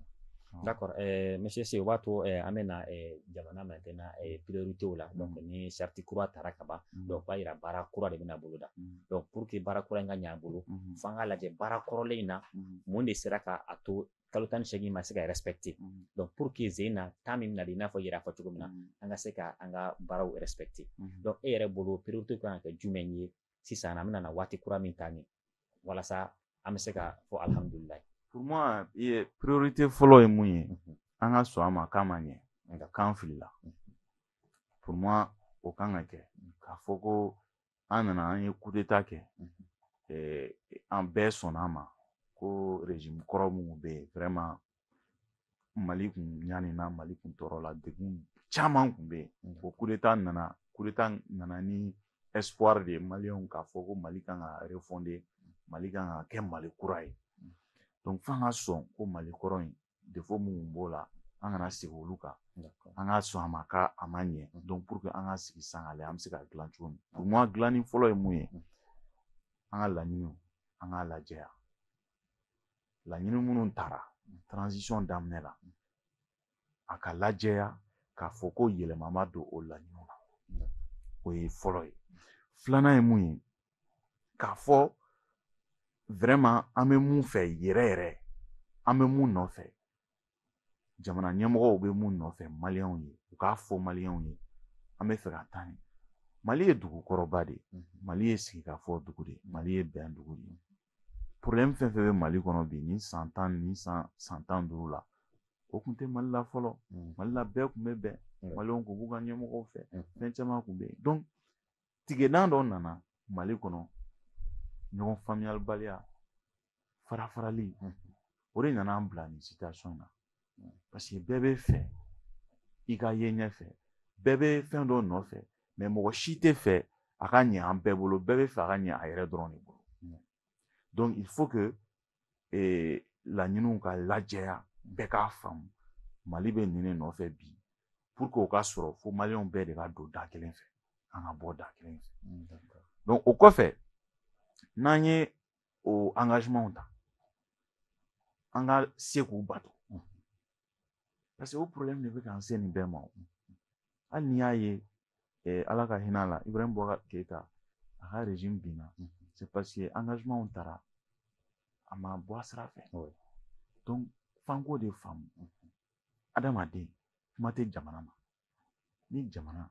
d'accord monsieur Se o b'a to an bɛ na jamana maintenant prioritéw la ni charte kura taara ka ban donc o b'a yira baara kura de bɛna boloda donc pour que baara kura in ka ɲ'an bolo fo an k'a lajɛ baara kɔrɔlen in na mun de sera k'a to kalo tan ni seegin ma se ka respecter donc pour que ze na temps min bɛna di i n'a fɔ yɛrɛ fɔ cogo min na an ka se ka an ka baaraw respecter donc e yɛrɛ bolo priorité kan ka kɛ jumɛn ye sisan an bɛna na waati kura min ta nin walasa an bɛ se ka fɔ alhamdulilayi pour moi priorité fɔlɔ ye mun ye an ka sɔn a ma k'a ma ɲɛ nka k'an filila pour moi o kan ka kɛ k'a fɔ ko an nana an ye kudeta kɛ an bɛɛ sɔnna a ma ko régime kɔrɔ minnu bɛ yen vraiment mali kun ɲanina mali kun tɔɔrɔla degun caman kun bɛ yen ko kudeta nana kudeta nana ni espoir de ye maliyɛnw k'a fɔ ko mali kan ka refonder mali kan ka kɛ mali kura ye donc f'an ka sɔn ko mali kɔrɔ in défaut minnu b'o la an kana segin olu kan an ka sɔn a ma k'a ma ɲɛ donc pour que an ka sigi sisan k'a lajɛ an bɛ se k'a dilan cogo min pour moi dilanni fɔlɔ ye mun ye an ka laɲiniw an k'a lajɛya laɲini minnu tara transition daminɛ la a ka lajɛya k'a fɔ ko yɛlɛma ma don o laɲiniw na o ye fɔlɔ ye filanan ye mun ye k'a fɔ vraiment an bɛ mun fɛ yɛrɛ yɛrɛ an bɛ mun nɔfɛ jamana ɲɛmɔgɔw bɛ mun nɔfɛ maliyɛnw ye u k'a fɔ maliyɛnw ye an bɛ fɛ ka taa ɲɛ mali ye dugu kɔrɔba de ye mhm. mali ye sigikafɔ dugu de ye mali ye bɛn dugu de ye problème fɛn fɛn bɛ mali kɔnɔ bi ni san tan ni san san tan duuru la o tun tɛ mali la fɔlɔ mhm. mali la bɛɛ tun bɛ bɛn maliyɛnw tun b'u ka ɲɛmɔgɔw fɛ mhm. fɛn caman tun bɛ yen donc tigɛdan dɔ nana mali kɔnɔ ɲɔgɔn faamuyalibaliya farafarali o de nana an bila nin situation na parce que bɛɛ bɛ fɛ i ka ye ɲɛfɛ bɛɛ bɛ fɛn dɔ nɔfɛ mais mɔgɔ si tɛ fɛ a ka ɲɛ an bɛɛ bolo bɛɛ bɛ fɛ a ka ɲɛ a yɛrɛ dɔrɔn de bolo donc il faut que laɲiniw ka lajɛya bɛɛ k'a faamu mali bɛ nin de nɔfɛ bi pour que o ka sɔrɔ fo maliyɛnw bɛɛ de ka don da kelen fɛ an ka bɔ da kelen fɛ mm, donc o kɔfɛ n'an ye o engagementw ta an ka se k'u bato parce que o problème de bɛ k'an se nin bɛɛ ma hali n'i y'a ye eh, ala ka hinɛ a la ibrahim boubacar keyita a ka régime binna c'est parce que engagementw taara a ma bɔ a sira fɛ donc f'an k'o de faamu adamaden kuma tɛ jamana ma ni jamana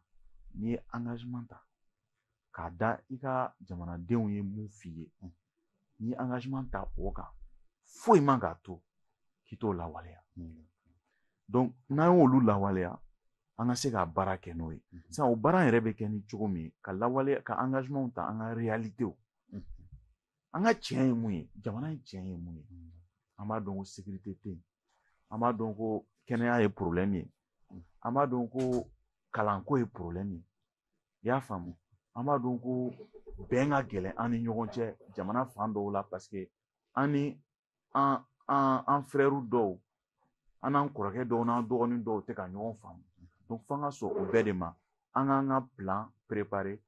n'i ye engagement ta k'a da i ka jamanadenw ye mun f'i ye n'i ye engagement ta o kan foyi man k'a to k'i t'o lawaleya donc n'an y'olu lawaleya an ka se ka baara kɛ n'o ye mhm. sisan o baara yɛrɛ bɛ kɛ ni cogo min ka lawaleya ka engagementw ta an ka realitew mhm. an ka tiɲɛ ye mun ye jamana in tiɲɛ ye mun ye an b'a dɔn ko sekirite tɛ yen an b'a dɔn ko kɛnɛya ye porobilɛmu ye an b'a dɔn ko kalanko ye porobilɛmu ye i y'a faamu an b'a dɔn ko bɛn ka gɛlɛn an ni ɲɔgɔn cɛ jamana fan dɔw la paseke an ni an an an frɛrɛw dɔw an n'an kɔrɔkɛ dɔw n'an dɔgɔnin dɔw tɛ ka ɲɔgɔn faamu donc f'an ka sɔn o bɛɛ de ma an k'an ka plan préparer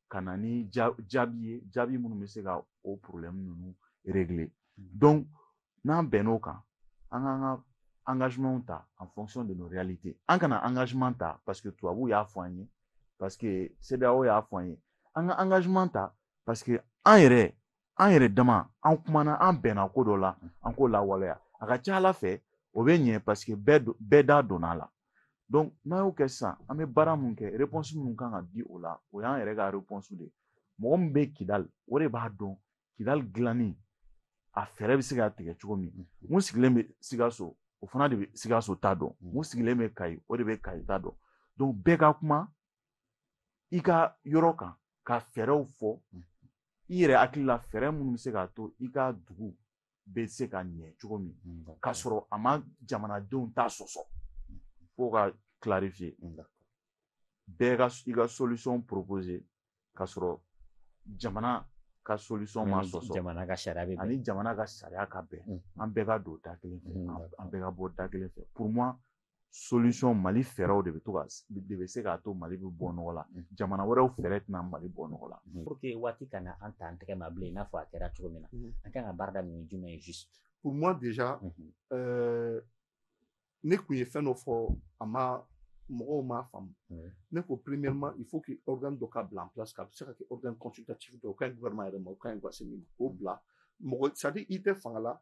ka na ni jaabi ye jaabi minnu bɛ se ka o problème ninnu régler donc n'an bɛnn'o kan an k'an ka engagement ta en fonction de nos réalités an kana engagement ta parce que tubabuw y'a fɔ an ye parce que CEDEAO y'a fɔ an ye an ka engagement ta parce que an yɛrɛ an yɛrɛ dama an kumana an bɛnna ko dɔ la an k'o lawaleya a ka ca ala fɛ o bɛ ɲɛ parce que bɛɛ da donna a la donc n'an y'o kɛ sisan an bɛ baara mun kɛ réponse minnu kan ka di o la o y'an yɛrɛ ka réponse de ye mɔgɔ min bɛ kidali o de b'a dɔn kidali dilanni a fɛɛrɛ bɛ se ka tigɛ cogo min min sigilen bɛ sikaso o fana de bɛ sikaso ta dɔn min sigilen bɛ kayi o de bɛ kayi ta dɔn donc bɛɛ ka kuma i ka yɔrɔ kan ka fɛɛrɛw fɔ mm. i yɛrɛ hakili la fɛɛrɛ minnu bɛ se k'a to i ka dugu bɛ se ka ɲɛ cogo min mm, k'a sɔrɔ a ma jamanadenw ta sɔsɔ mm. fo ka clarifier bɛɛ ka i ka solution proposer k'a sɔrɔ jamana ka solution ma sɔsɔ jamana ka sariya bɛ ani jamana ka sariya ka bɛn an bɛɛ ka don da kelen fɛ an bɛɛ ka bɔ da kelen fɛ pour moi solution mali fɛɛrɛw de bɛ to ka de bɛ se k'a to mali bɛ bɔ nɔgɔ la jamana wɛrɛw fɛɛrɛ tɛna mali bɔ nɔgɔ la pour que waati kana an ta an tɛgɛ ma bilen i n'a fɔ a kɛra cogo min na an kan ka baara daminɛ ni jumɛn ye juste pour moi déjà euh, ne kun ye fɛn dɔ fɔ a ma mɔgɔw m'a faamu ne ko premièrement il faut que organe dɔ ka bila en place ka bɛ se ka kɛ organe consultatif dɔ o ka ɲi gouvernement yɛrɛ ma o ka ɲi asimi ma k'o bila mɔgɔ c'est à dire i tɛ fanga la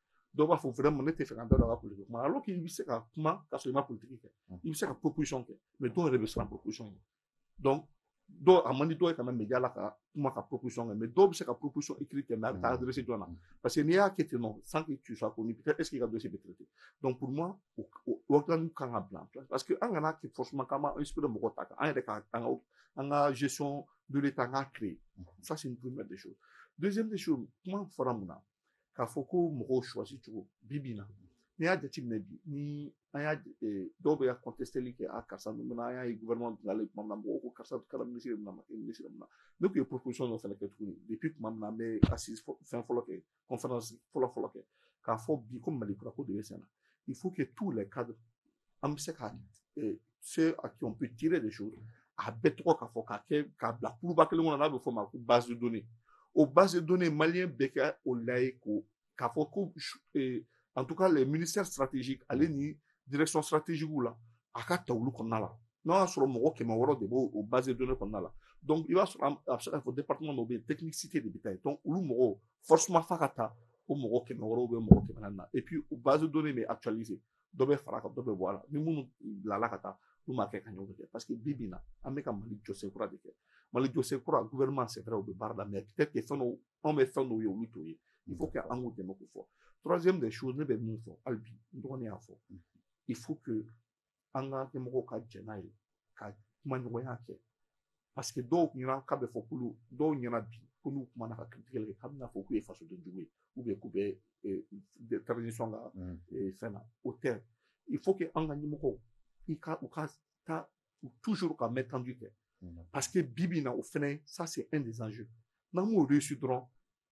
dɔw b'a fɔ vraiment ne tɛ fɛ ka n da don a ka politiki kuma alors k'i bɛ se ka kuma k'a sɔrɔ i ma politiki kɛ i bɛ se ka proposition kɛ mais dɔw yɛrɛ bɛ siran proposition ye donc dɔw a man di dɔw ye ka na média la ka kuma ka proposition kɛ mais dɔw bɛ se ka proposition écrite kɛ mais a bɛ taa adresser jɔn na parce que n'i y'a kɛ ten nɔ sans que tu sois connu peut-être est-ce que i ka dossier bɛ traiter donc pour moi o o organe kan ka bila en place parce que an kana kɛ forcément k'an b'a inspirer mɔgɔw ta kan an yɛrɛ ka an ka an ka gestion de l'état an k'a créer ça c'est une première des choses deuxième des choses kuma fɔra min na k'a fɔ ko mɔgɔw choisi cogo bi bi in na n'i y'a jateminɛ bi ni an y'a dɔw bɛ ka contesteli kɛ a karisa ninnu na an y'a ye gouvernement bilala tuma min na mɔgɔw ko karisa kɛra minisiri mun na ma kɛ minisiri mun na ne tun ye proposition dɔ fana kɛ tuguni depuis tuma min na an bɛ assises fɛn fɔlɔ kɛ conférence fɔlɔ fɔlɔ kɛ k'a fɔ bi ko mali kura ko de bɛ sen na il faut que tous les cadres an bɛ se ka ceux à qui on peut tirer des choses a bɛɛ tɔgɔ k'a fɔ k'a kɛ k'a bila kuluba kelen kɔnɔ n'a bɛ fɔ ma ko base de données o base de données maliyɛn bɛɛ kɛ o la ye ko k'a fɔ ko eh, en tout cas les ministères stratégiques ale ni direction stratégique la a ka ta olu kɔnɔna la n'o y'a sɔrɔ mɔgɔ kɛmɛ wɔɔrɔ de b'o o base de données kɔnɔna la donc i b'a sɔrɔ a bɛ se k'a fɔ département dɔ bɛ yen technicité de bɛ taa yen donc olu mɔgɔw forcément f'a ka ta o mɔgɔ kɛmɛ wɔɔrɔ ou bien mɔgɔ kɛmɛ naani na et puis o base de données bɛ actualiser dɔ bɛ fara kan dɔ bɛ bɔ a la ni minnu bilala ka taa n'u ma kɛ ka ɲɔgɔn kɛ parce que bi bi in na an bɛ ka mali jɔsen kura de kɛ mali jɔsen kura gouvernement c'est vrai u bɛ baara la mais peut-être que fɛn dɔw anw bɛ fɛn dɔw ye olu t'o ye il faut que an k'u dɛmɛ k'o fɔ troisième des choses ne bɛ min fɔ hali bi n dɔgɔnin y'a fɔ il faut que an ka ɲɛmɔgɔw ka jɛn n'a ye ka kuma ɲɔgɔnya kɛ parce que dɔw kun ɲɛna k'a bɛ fɔ k'olu dɔw ɲɛna bi ko n'u kumana ka critique kɛ k'a bɛna fɔ k'u ye fasoden jugu ye ou bien k'u bɛ transition ka fɛn na o tɛ il faut que an ka ɲɛmɔgɔw u ka taa toujours ka main tendue kɛ parce que bi bi in na o fɛnɛ ça c'est un des enjeux n'an m'o réussi dɔrɔn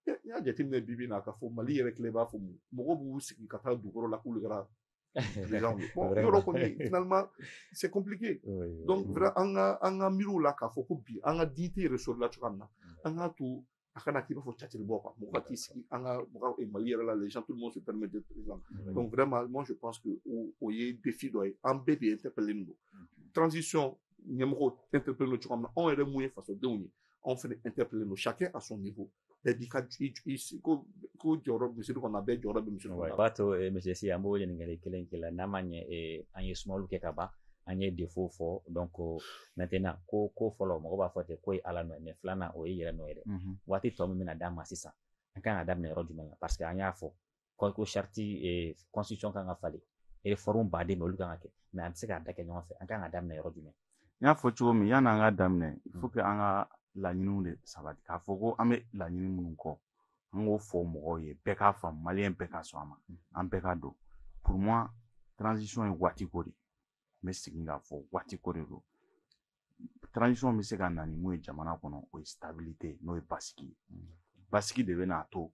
n y'a jateminɛ bi bi in na k'a fɔ mali yɛrɛ kile b'a fɔ mɔgɔw b'u sigi ka taa dugukɔrɔ la k'olu kɛra président ye bon yɔrɔ kɔni finalement c'est compliqué donc vraiment an ka an ka miiriw la k'a fɔ ko bi an ka dignité ressort la cogoya min na an k'a to a kana k'i b'a fɔ catiri bɔ quoi mɔgɔ ka t'i sigi an ka mɔgɔ mali yɛrɛ la les gens tout le monde se permet d'être président donc vraiment moi je pense que o ye défi dɔ ye an bɛɛ de interpellé don transition ɲɛmɔgɔw interpellé don cogoya min na anw yɛrɛ mun ye fasodenw ye anw fana interpellé don chacun à son niveau bɛɛ b'i ka ko ko jɔyɔrɔ misiri kɔnɔ bɛɛ jɔyɔrɔ bɛ misiri kɔnɔ. o b'a to eh, monsieur Sy an b'o ɲininkali kelen k'i la n'a ma ɲɛ eh, an ye sumaworo kɛ ka ban an ye défaut fɔ donc maintenant ko ko fɔlɔ mɔgɔ b'a fɔ ten k'o ye ala nɔ ye mais filanan o ye yɛrɛ nɔ ye dɛ waati tɔ min bɛna d'an ma sisan an kan ka daminɛ yɔrɔ jumɛn na parce que an y'a fɔ ko charte constitution kan ka falen réforme baden olu kan ka kɛ mais an tɛ se k'a da kɛ ɲɔgɔn fɛ an ka kan ka daminɛ yɔrɔ jumɛn n y'a fɔ cogo min yan an ka daminɛ il faut que an ka laɲiniw de sabati k'a fɔ ko an bɛ laɲini minnu kɔ an k'o fɔ mɔgɔw ye bɛɛ k'a faamu maliyɛn bɛɛ ka sɔn a ma mm. an bɛɛ ka don pour moi transition ye waati ko de n bɛ segin k'a fɔ waati ko de don transition bɛ se ka na ni mun ye jamana kɔnɔ o ye stabilité n'o ye basigi ye basigi de bɛ n'a to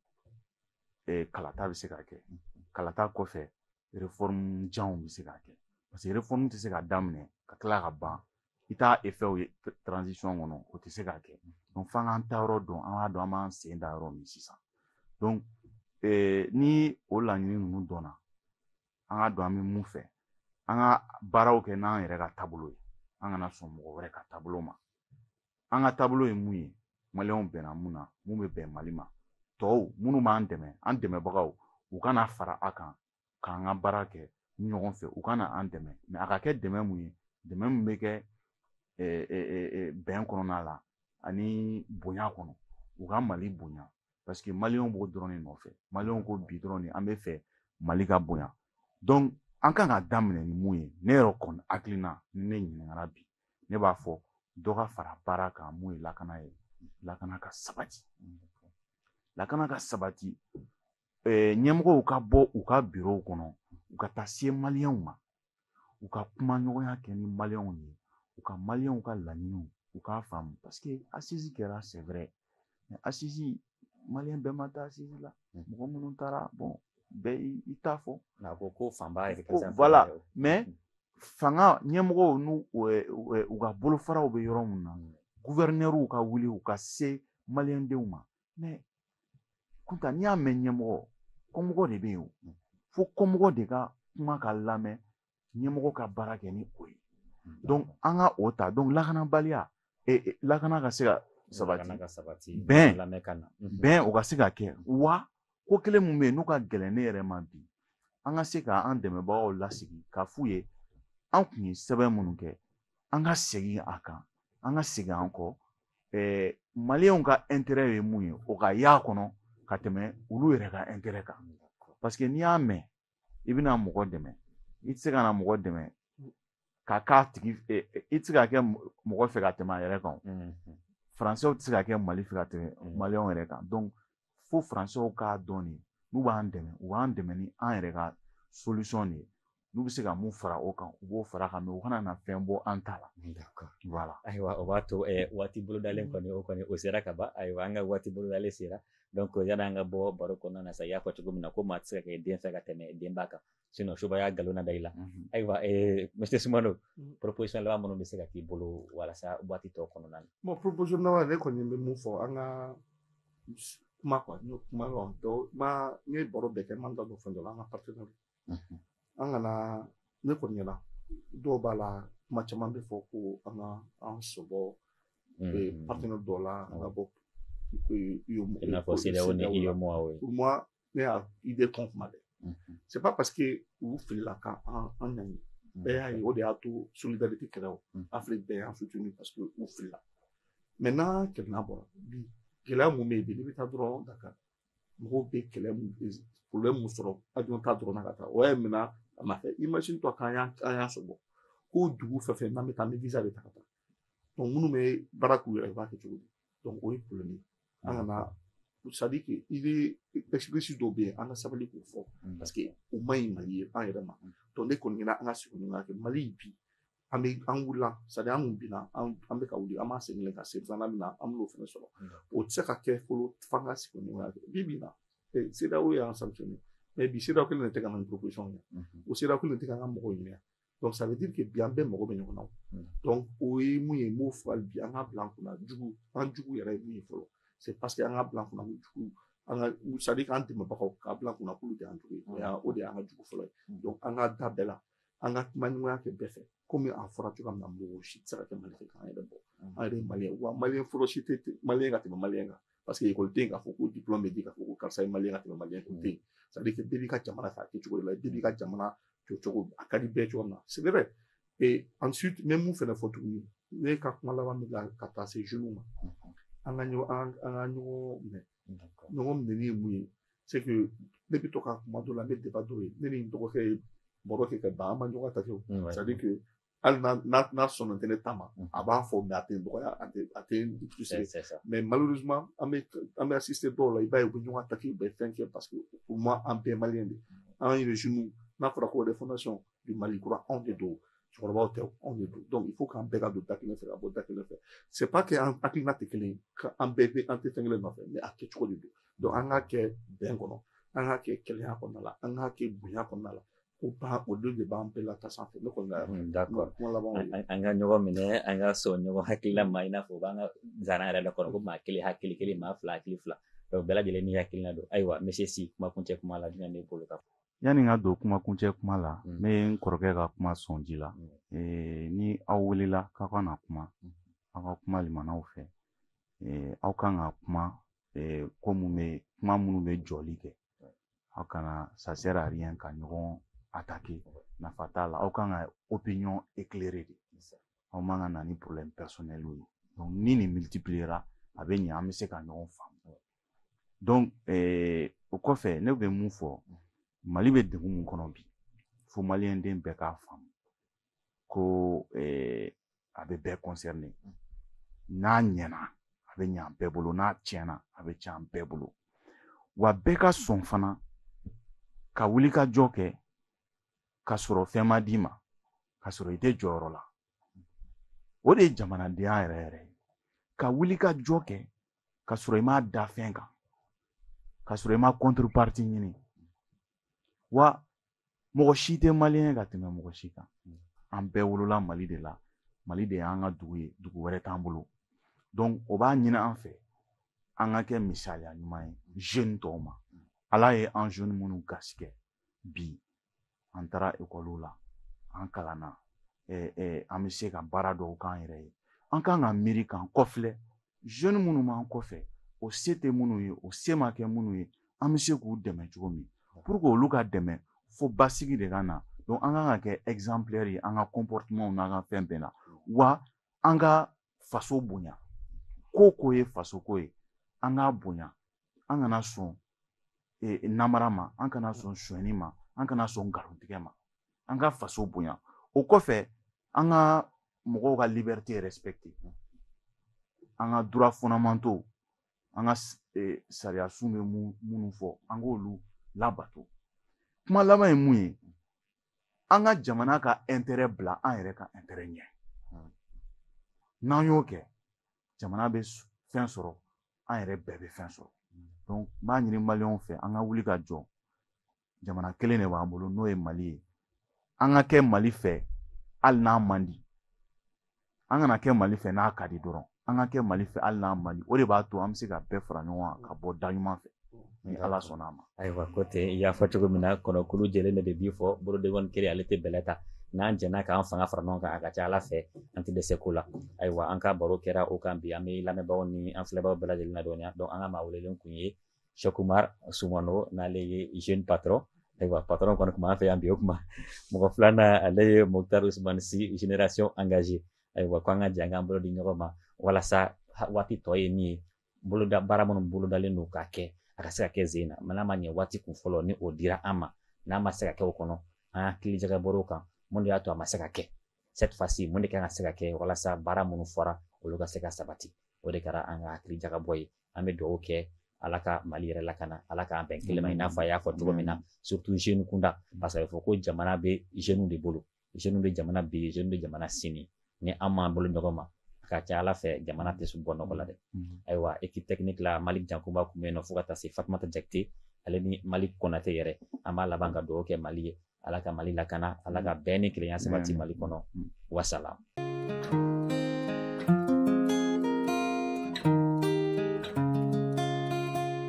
eh, kalata bɛ se ka kɛ kalata kɔfɛ réforme janw bɛ se ka kɛ parce que réforme tɛ se ka daminɛ ka tila ka ban i t'a effet ye transition kɔnɔ o tɛ se ka kɛ donc f'an k'an taayɔrɔ dɔn an k'a dɔn an b'an sen da yɔrɔ min sisan donc eh, ni o laɲini ninnu dɔnna an k'a dɔn an bɛ mun fɛ an ka baaraw kɛ n'an yɛrɛ ka taabolo ye an kana sɔn mɔgɔ wɛrɛ ka taabolo ma an ka taabolo ye mun ye maliyɛnw bɛnna mun na mun bɛ bɛn mali ma tɔw minnu b'an dɛmɛ an dɛmɛbagaw u ka na fara an kan k'an ka baara kɛ ɲɔgɔn fɛ u ka na an dɛmɛ mais a ka kɛ dɛmɛ mun ye dɛmɛ min bɛ kɛ bɛn kɔnɔna la ani bonya kɔnɔ u ka mali bonya parce que maliyɛnw b'o dɔrɔn de nɔfɛ maliyɛnw ko bi dɔrɔn de an bɛ fɛ mali ka bonya donc an kan ka daminɛ ni mun ye ne yɛrɛ kɔni hakilina ni ne ɲininkara bi ne b'a fɔ dɔ ka fara baara kan mun ye lakana ye lakana ka sabati lakana ka sabati ɲɛmɔgɔw ka bɔ u ka birow kɔnɔ u ka taa se maliyɛnw ma u ka kuma ɲɔgɔnya kɛ ni maliyɛnw ye u ka maliyɛnw ka laɲiniw u k'a faamu parce que assise kɛra c'est vrai assise maliyɛn bɛɛ ma taa assise la hmm. mɔgɔ minnu taara bon bɛɛ i t'a fɔ nka ko ko fanba yɛrɛ ko voilà mais hmm. fanga ɲɛmɔgɔw n'u u ka bolofaraw bɛ yɔrɔ min na hmm. guvɛrinɛriw ka wuli u ka se maliyɛndenw ma kunta n'i y'a mɛn ɲɛmɔgɔ kɔmɔgɔ de bɛ yen o mm. fo kɔmɔgɔ de ka kuma ka lamɛn ɲɛmɔgɔ ka baara kɛ ni o ye mm. an ka o ta donc lakanabaliya e, e, lakana ka se ka sabati bɛn mm-hmm. bɛn o ka se ka kɛ wa ko kelen min bɛ yen n'o ka gɛlɛn ne yɛrɛ ma bi an ka se ka an dɛmɛbagaw lasigi k'a f'u ye an kun ye sɛbɛn minnu kɛ an ka segin a kan an ka segin an kɔ eh, maliyɛnw ka intérêt ye mun ye o ka y'a kɔnɔ ka tɛmɛ olu yɛrɛ ka intérêt kan parce que n'i y'a mɛn i bɛna mɔgɔ dɛmɛ i tɛ se ka na mɔgɔ dɛmɛ ka k'a tigi eh, eh, i tɛ se ka kɛ mɔgɔ fɛ ka tɛmɛ a yɛrɛ kan faransɛw tɛ se ka kɛ mali fɛ ka tɛmɛ maliyɛnw yɛrɛ kan donc fo faransɛw k'a dɔn de n'u b'an dɛmɛ u b'an dɛmɛ ni an yɛrɛ ka solution de ye n'u bɛ se ka mun fara o kan u b'o fara kan mais u kana na fɛn bɔ an ta la voilà ayiwa o b'a to waati bolodalen kɔni o kɔni o sera ka ban ayiwa an ka waati bolodalen sera donc yani an ka bɔ baro kɔnɔna na sa i y'a fɔ cogo min na ko maa tɛ se ka kɛ den fɛ ka tɛmɛ denba kan sinon subaya nkalon na da i la ayiwa monsieur sumano proposition laban minnu bɛ se ka k'i bolo walasa waati tɔ kɔnɔna na bon proposition laban ne kɔni bɛ mun fɔ an ka kuma quoi n ye kuma dɔ n ye baro bɛɛ kɛ n ma da don fɛn dɔ la an ka partenaire an kana ne kɔni ɲɛna dɔw b'a la kuma caman bɛ fɔ ko an ka an sɔbɔ partenaire dɔw la an ka bɔ i n'a fɔ CEDEAO ni UEMOA pour moi ne y'a idée kɔn kuma dɛ c'est pas parce que u filila ka an an ɲangi bɛɛ y'a ye o de y'a to solidarité kɛra o afiriki bɛɛ y'an soutenu parce que u filila mais n'an kelenna bɔra bi gɛlɛya mun bɛ yen bi n'i bɛ taa dɔrɔn dakari mɔgɔw bɛ kɛlɛ mun problème mun sɔrɔ avion ta dɔrɔn na ka taa o y'a minɛ a ma kɛ imagine toi k'an y'a an y'a sɔrɔ ko dugu fɛn fɛn n'an bɛ taa an bɛ visa de ta ka taa donc minnu bɛ baara k'u yɛrɛ ye u b'a kɛ cogo di donc o ye problème ye an kana c'est à dire que i bɛ expérience dɔw bɛ yen an ka sabali k'o fɔ parce que o man ɲi mali ye an yɛrɛ ma donc ne kɔni ɲɛna an ka segin ɲɔgɔn kan mali bi an bɛ an wulila c'est à dire an kun binna an bɛ ka wuli an b'a segin ka se filanan min na an b'o fana sɔrɔ o tɛ se ka kɛ fɔlɔ f'an ka segin ɲɔgɔn kan bi bi in na CEDEAO y'an sanctionné mais bi CEDEAO kelen de tɛ ka na ni proposition ye o CEDEAO kelen de tɛ ka an ka mɔgɔw ɲininka donc ça veut dire que bi an bɛɛ mago bɛ ɲɔgɔn na donc o ye mun ye n b'o fɔ hali bi an k'a bila an kunna jugu an jugu yɛrɛ ye mun ye fɔlɔ c'est parce que an k'a bila an kunna ko jugu an ka c'est à dire k'an dɛmɛbagaw k'a bila an kunna k'olu de y'an jugu ye o de y'an ka jugu fɔlɔ ye donc an ka da bɛɛ la an ka kuma ɲɔgɔnya kɛ bɛɛ fɛ komi a fɔra cogoya min na mɔgɔ si tɛ se ka kɛ mali fɛ k'an yɛrɛ bɔ an yɛrɛ maliyɛn wa maliyɛn fɔlɔ si tɛ maliyɛn ka tɛmɛ maliyɛn kan parce que ekɔli tɛ yen k'a fɔ ko diplôme bɛ di k'a fɔ ko karisa ye maliyɛn ka tɛmɛ maliyɛn kan o tɛ yen c'est à dire que bɛɛ b'i ka jamana fɛ a kɛ cogo de la bɛɛ b'i ka jamana jɔ cogo a ka di bɛɛ cogo min na c'est vrai et ensuite n bɛ mun fɛnɛ fɔ tuguni ne ka kuma laban min la ka taa se jeunes ma an ka ɲɔgɔn an ka ɲɔgɔn minɛ ɲɔgɔn minɛni ye mun ye c'est que ne bɛ to ka kuma dɔ la n bɛ débat dɔw ye ne ni n dɔgɔkɛ ye baro kɛ ka ban an ma ɲɔgɔn attaquer c'est à dire que hali n'a n'a sɔnnen tɛ ne ta ma a b'a fɔ mais a tɛ n dɔgɔya a tɛ a tɛ n toucher mais malheureusement an bɛ an bɛ assister dɔw la i b'a ye u bɛ ɲɔgɔn attaquer u bɛ fɛn kɛ parce que pour moi an bɛɛ maliyɛn de an yɛrɛ n'a fɔra ko refondation du mali kura anw de don cɛkɔrɔbaw tɛ anw de don donc il faut k'an bɛɛ ka don da kelen fɛ ka bɔ da kelen fɛ c'est pas que an hakilina tɛ kelen ye an bɛɛ bɛ an tɛ fɛn kelen nɔfɛ mais a kɛcogo de don donc an k'a kɛ bɛn kɔnɔ an k'a kɛ kelenya kɔnɔna la an k'a kɛ bonya kɔnɔna la ko ba o don de b'an bɛɛ lata sanfɛ ne kɔni kuma laban an ka ɲɔgɔn minɛ an ka sɔn ɲɔgɔn hakilila ma i n'a fɔ u b'an ka zana yɛrɛ la kɔnɔ ko maa kelen hakili kelen maa fila hakili fila bɛɛ lajɛlen ni hakilina don ayiwa monsieur si kuma kuncɛ kuma la jumɛn b'e bolo ka fɔ yanni n ka don kuma kuncɛ kuma la mm. ne ye n kɔrɔkɛ ka kuma sɔn ji la mm. eh, ni aw welela k'aw ka na kuma mm. aw ka kuma limanaw fɛ eh, aw kan ka kuma eh, ko mun bɛ kuma minnu bɛ jɔli kɛ aw kana ça sert à rien ka ɲɔgɔn attaquer nafa t'a la aw kan ka opinion éclairer de aw man ka na ni problème personnel ye donc ni nin multipliera a bɛ ɲɛ an bɛ se ka ɲɔgɔn faamu donc eh, o kɔfɛ ne bɛ mun fɔ mali bɛ degun mun kɔnɔ bi fo maliyɛn den bɛɛ k'a faamu ko eh, a bɛ bɛɛ concerné n'a ɲɛna a bɛ ɲɛ an bɛɛ bolo n'a tiɲɛna a bɛ tiɲɛ an bɛɛ bolo wa bɛɛ ka sɔn fana ka wuli ka jɔ kɛ ka sɔrɔ fɛn ma d'i ma ka sɔrɔ i tɛ jɔyɔrɔ la o de ye jamanadenya yɛrɛ yɛrɛ ye ka wuli ka jɔ kɛ ka sɔrɔ i m'a da fɛn kan ka sɔrɔ i ma contrepartie ɲini wa mɔgɔ si tɛ maliyɛn ka tɛmɛ mɔgɔ si kan an bɛɛ wolola mali de la mali de y'an ka dugu ye dugu wɛrɛ t'an bolo donc o b'a ɲini an fɛ an ka kɛ misaliya ɲuman ye jeune tɔw ma ala ye an jeune minnu garisigɛ bi an taara ekɔliw la an kalanna an bɛ se ka baara dɔw k'an yɛrɛ ye an kan ka miiri k'an kɔfilɛ jeune minnu b'an kɔfɛ o se tɛ minnu ye o se ma kɛ minnu ye an bɛ se k'u dɛmɛ cogo min pour que olu ka dɛmɛ fo basigi de ka na donc an kan ka kɛ exemplaire ye an ka comportement n'an ka fɛn bɛɛ la wa an ka faso bonya ko ko ye faso ko ye an k'a bonya an kana sɔn namara ma an kana sɔn sonyani ma an kana sɔn nkalontigɛ ma an ka faso bonya o kɔfɛ an ka mɔgɔw ka liberté respecter an ka droits fondamentaux an ka sariya sun bɛ minnu fɔ an k'olu labato kuma laban ye mun ye an ka jamana ka intérêt bila an yɛrɛ ka intérêt ɲɛ n'an y'o kɛ jamana bɛ fɛn sɔrɔ an yɛrɛ bɛɛ bɛ fɛn sɔrɔ n b'a ɲini maliyɛnw fɛ an ka wuli ka jɔ jamana kelen de b'an bolo n'o ye mali ye an ka kɛ mali fɛ hali n'a man di an kana kɛ mali fɛ n'a ka di dɔrɔn an ka kɛ mali fɛ hali n'a man di o de b'a to an bɛ se ka bɛɛ fara ɲɔgɔn kan ka bɔ da ɲuman fɛ ni ala sɔnna a ma ayiwa ko tɛ i y'a fɔ cogo min na kɔnɔkulu jɛlen de bɛ bi fɔ bolodenkɔni kelen ale tɛ bɛlɛ ta n'an jɛnna k'an fanga fara ɲɔgɔn kan a ka ca ala fɛ an tɛ dɛsɛ ko la ayiwa an ka baro kɛra o kan bi an bɛ lamɛnbaaw ni an filɛbaaw bɛɛ lajɛlen ladɔnniya donc an ka maa welelen kun ye sɛk umar sumano n'ale ye jeune patron ayiwa patron kɔni kun b'an fɛ yan bi o kuma mɔgɔ filanan ale ye moktar usman si génération engagée ayiwa ko an ka jɛ an k'an bolo di ɲɔgɔn ma walasa waati tɔ ye min ye boloda baara minnu bolodalen don k'a kɛ a ka se ka kɛ sen na mais n'a ma ɲɛ waati kun fɔlɔ ni o dira an ma n'a ma se ka kɛ o kɔnɔ an hakili jagabɔr'o kan mun de y'a to a ma se ka kɛ cette fois-ci mun de kan ka se ka kɛ walasa baara minnu fɔra olu ka se ka sabati o de kɛra an ka hakili jagabɔ ye an bɛ dugawu kɛ ala ka mali yɛrɛ lakana ala k'an bɛn kelen ma i n'a fɔ a y'a fɔ cogo min na surtout jeune kunda parce que a bɛ fɔ ko jamana bɛ jeunes de bolo jeunes bɛ jamana bi jeunes bɛ jamana sini ni an m'an bolo ɲɔgɔn ma a ka ca ala fɛ jamana tɛ bɔ nɔgɔ la dɛ mm-hmm. ayiwa équipe technique la malik jankunba tun bɛ yen nɔ fo ka taa se fatumata jakite ale ni malik kɔnate yɛrɛ an b'a laban ka dugawu kɛ mali ye ala ka mali lakana ala ka bɛn ni kelenya sabati mali kɔnɔ mm-hmm. wasalam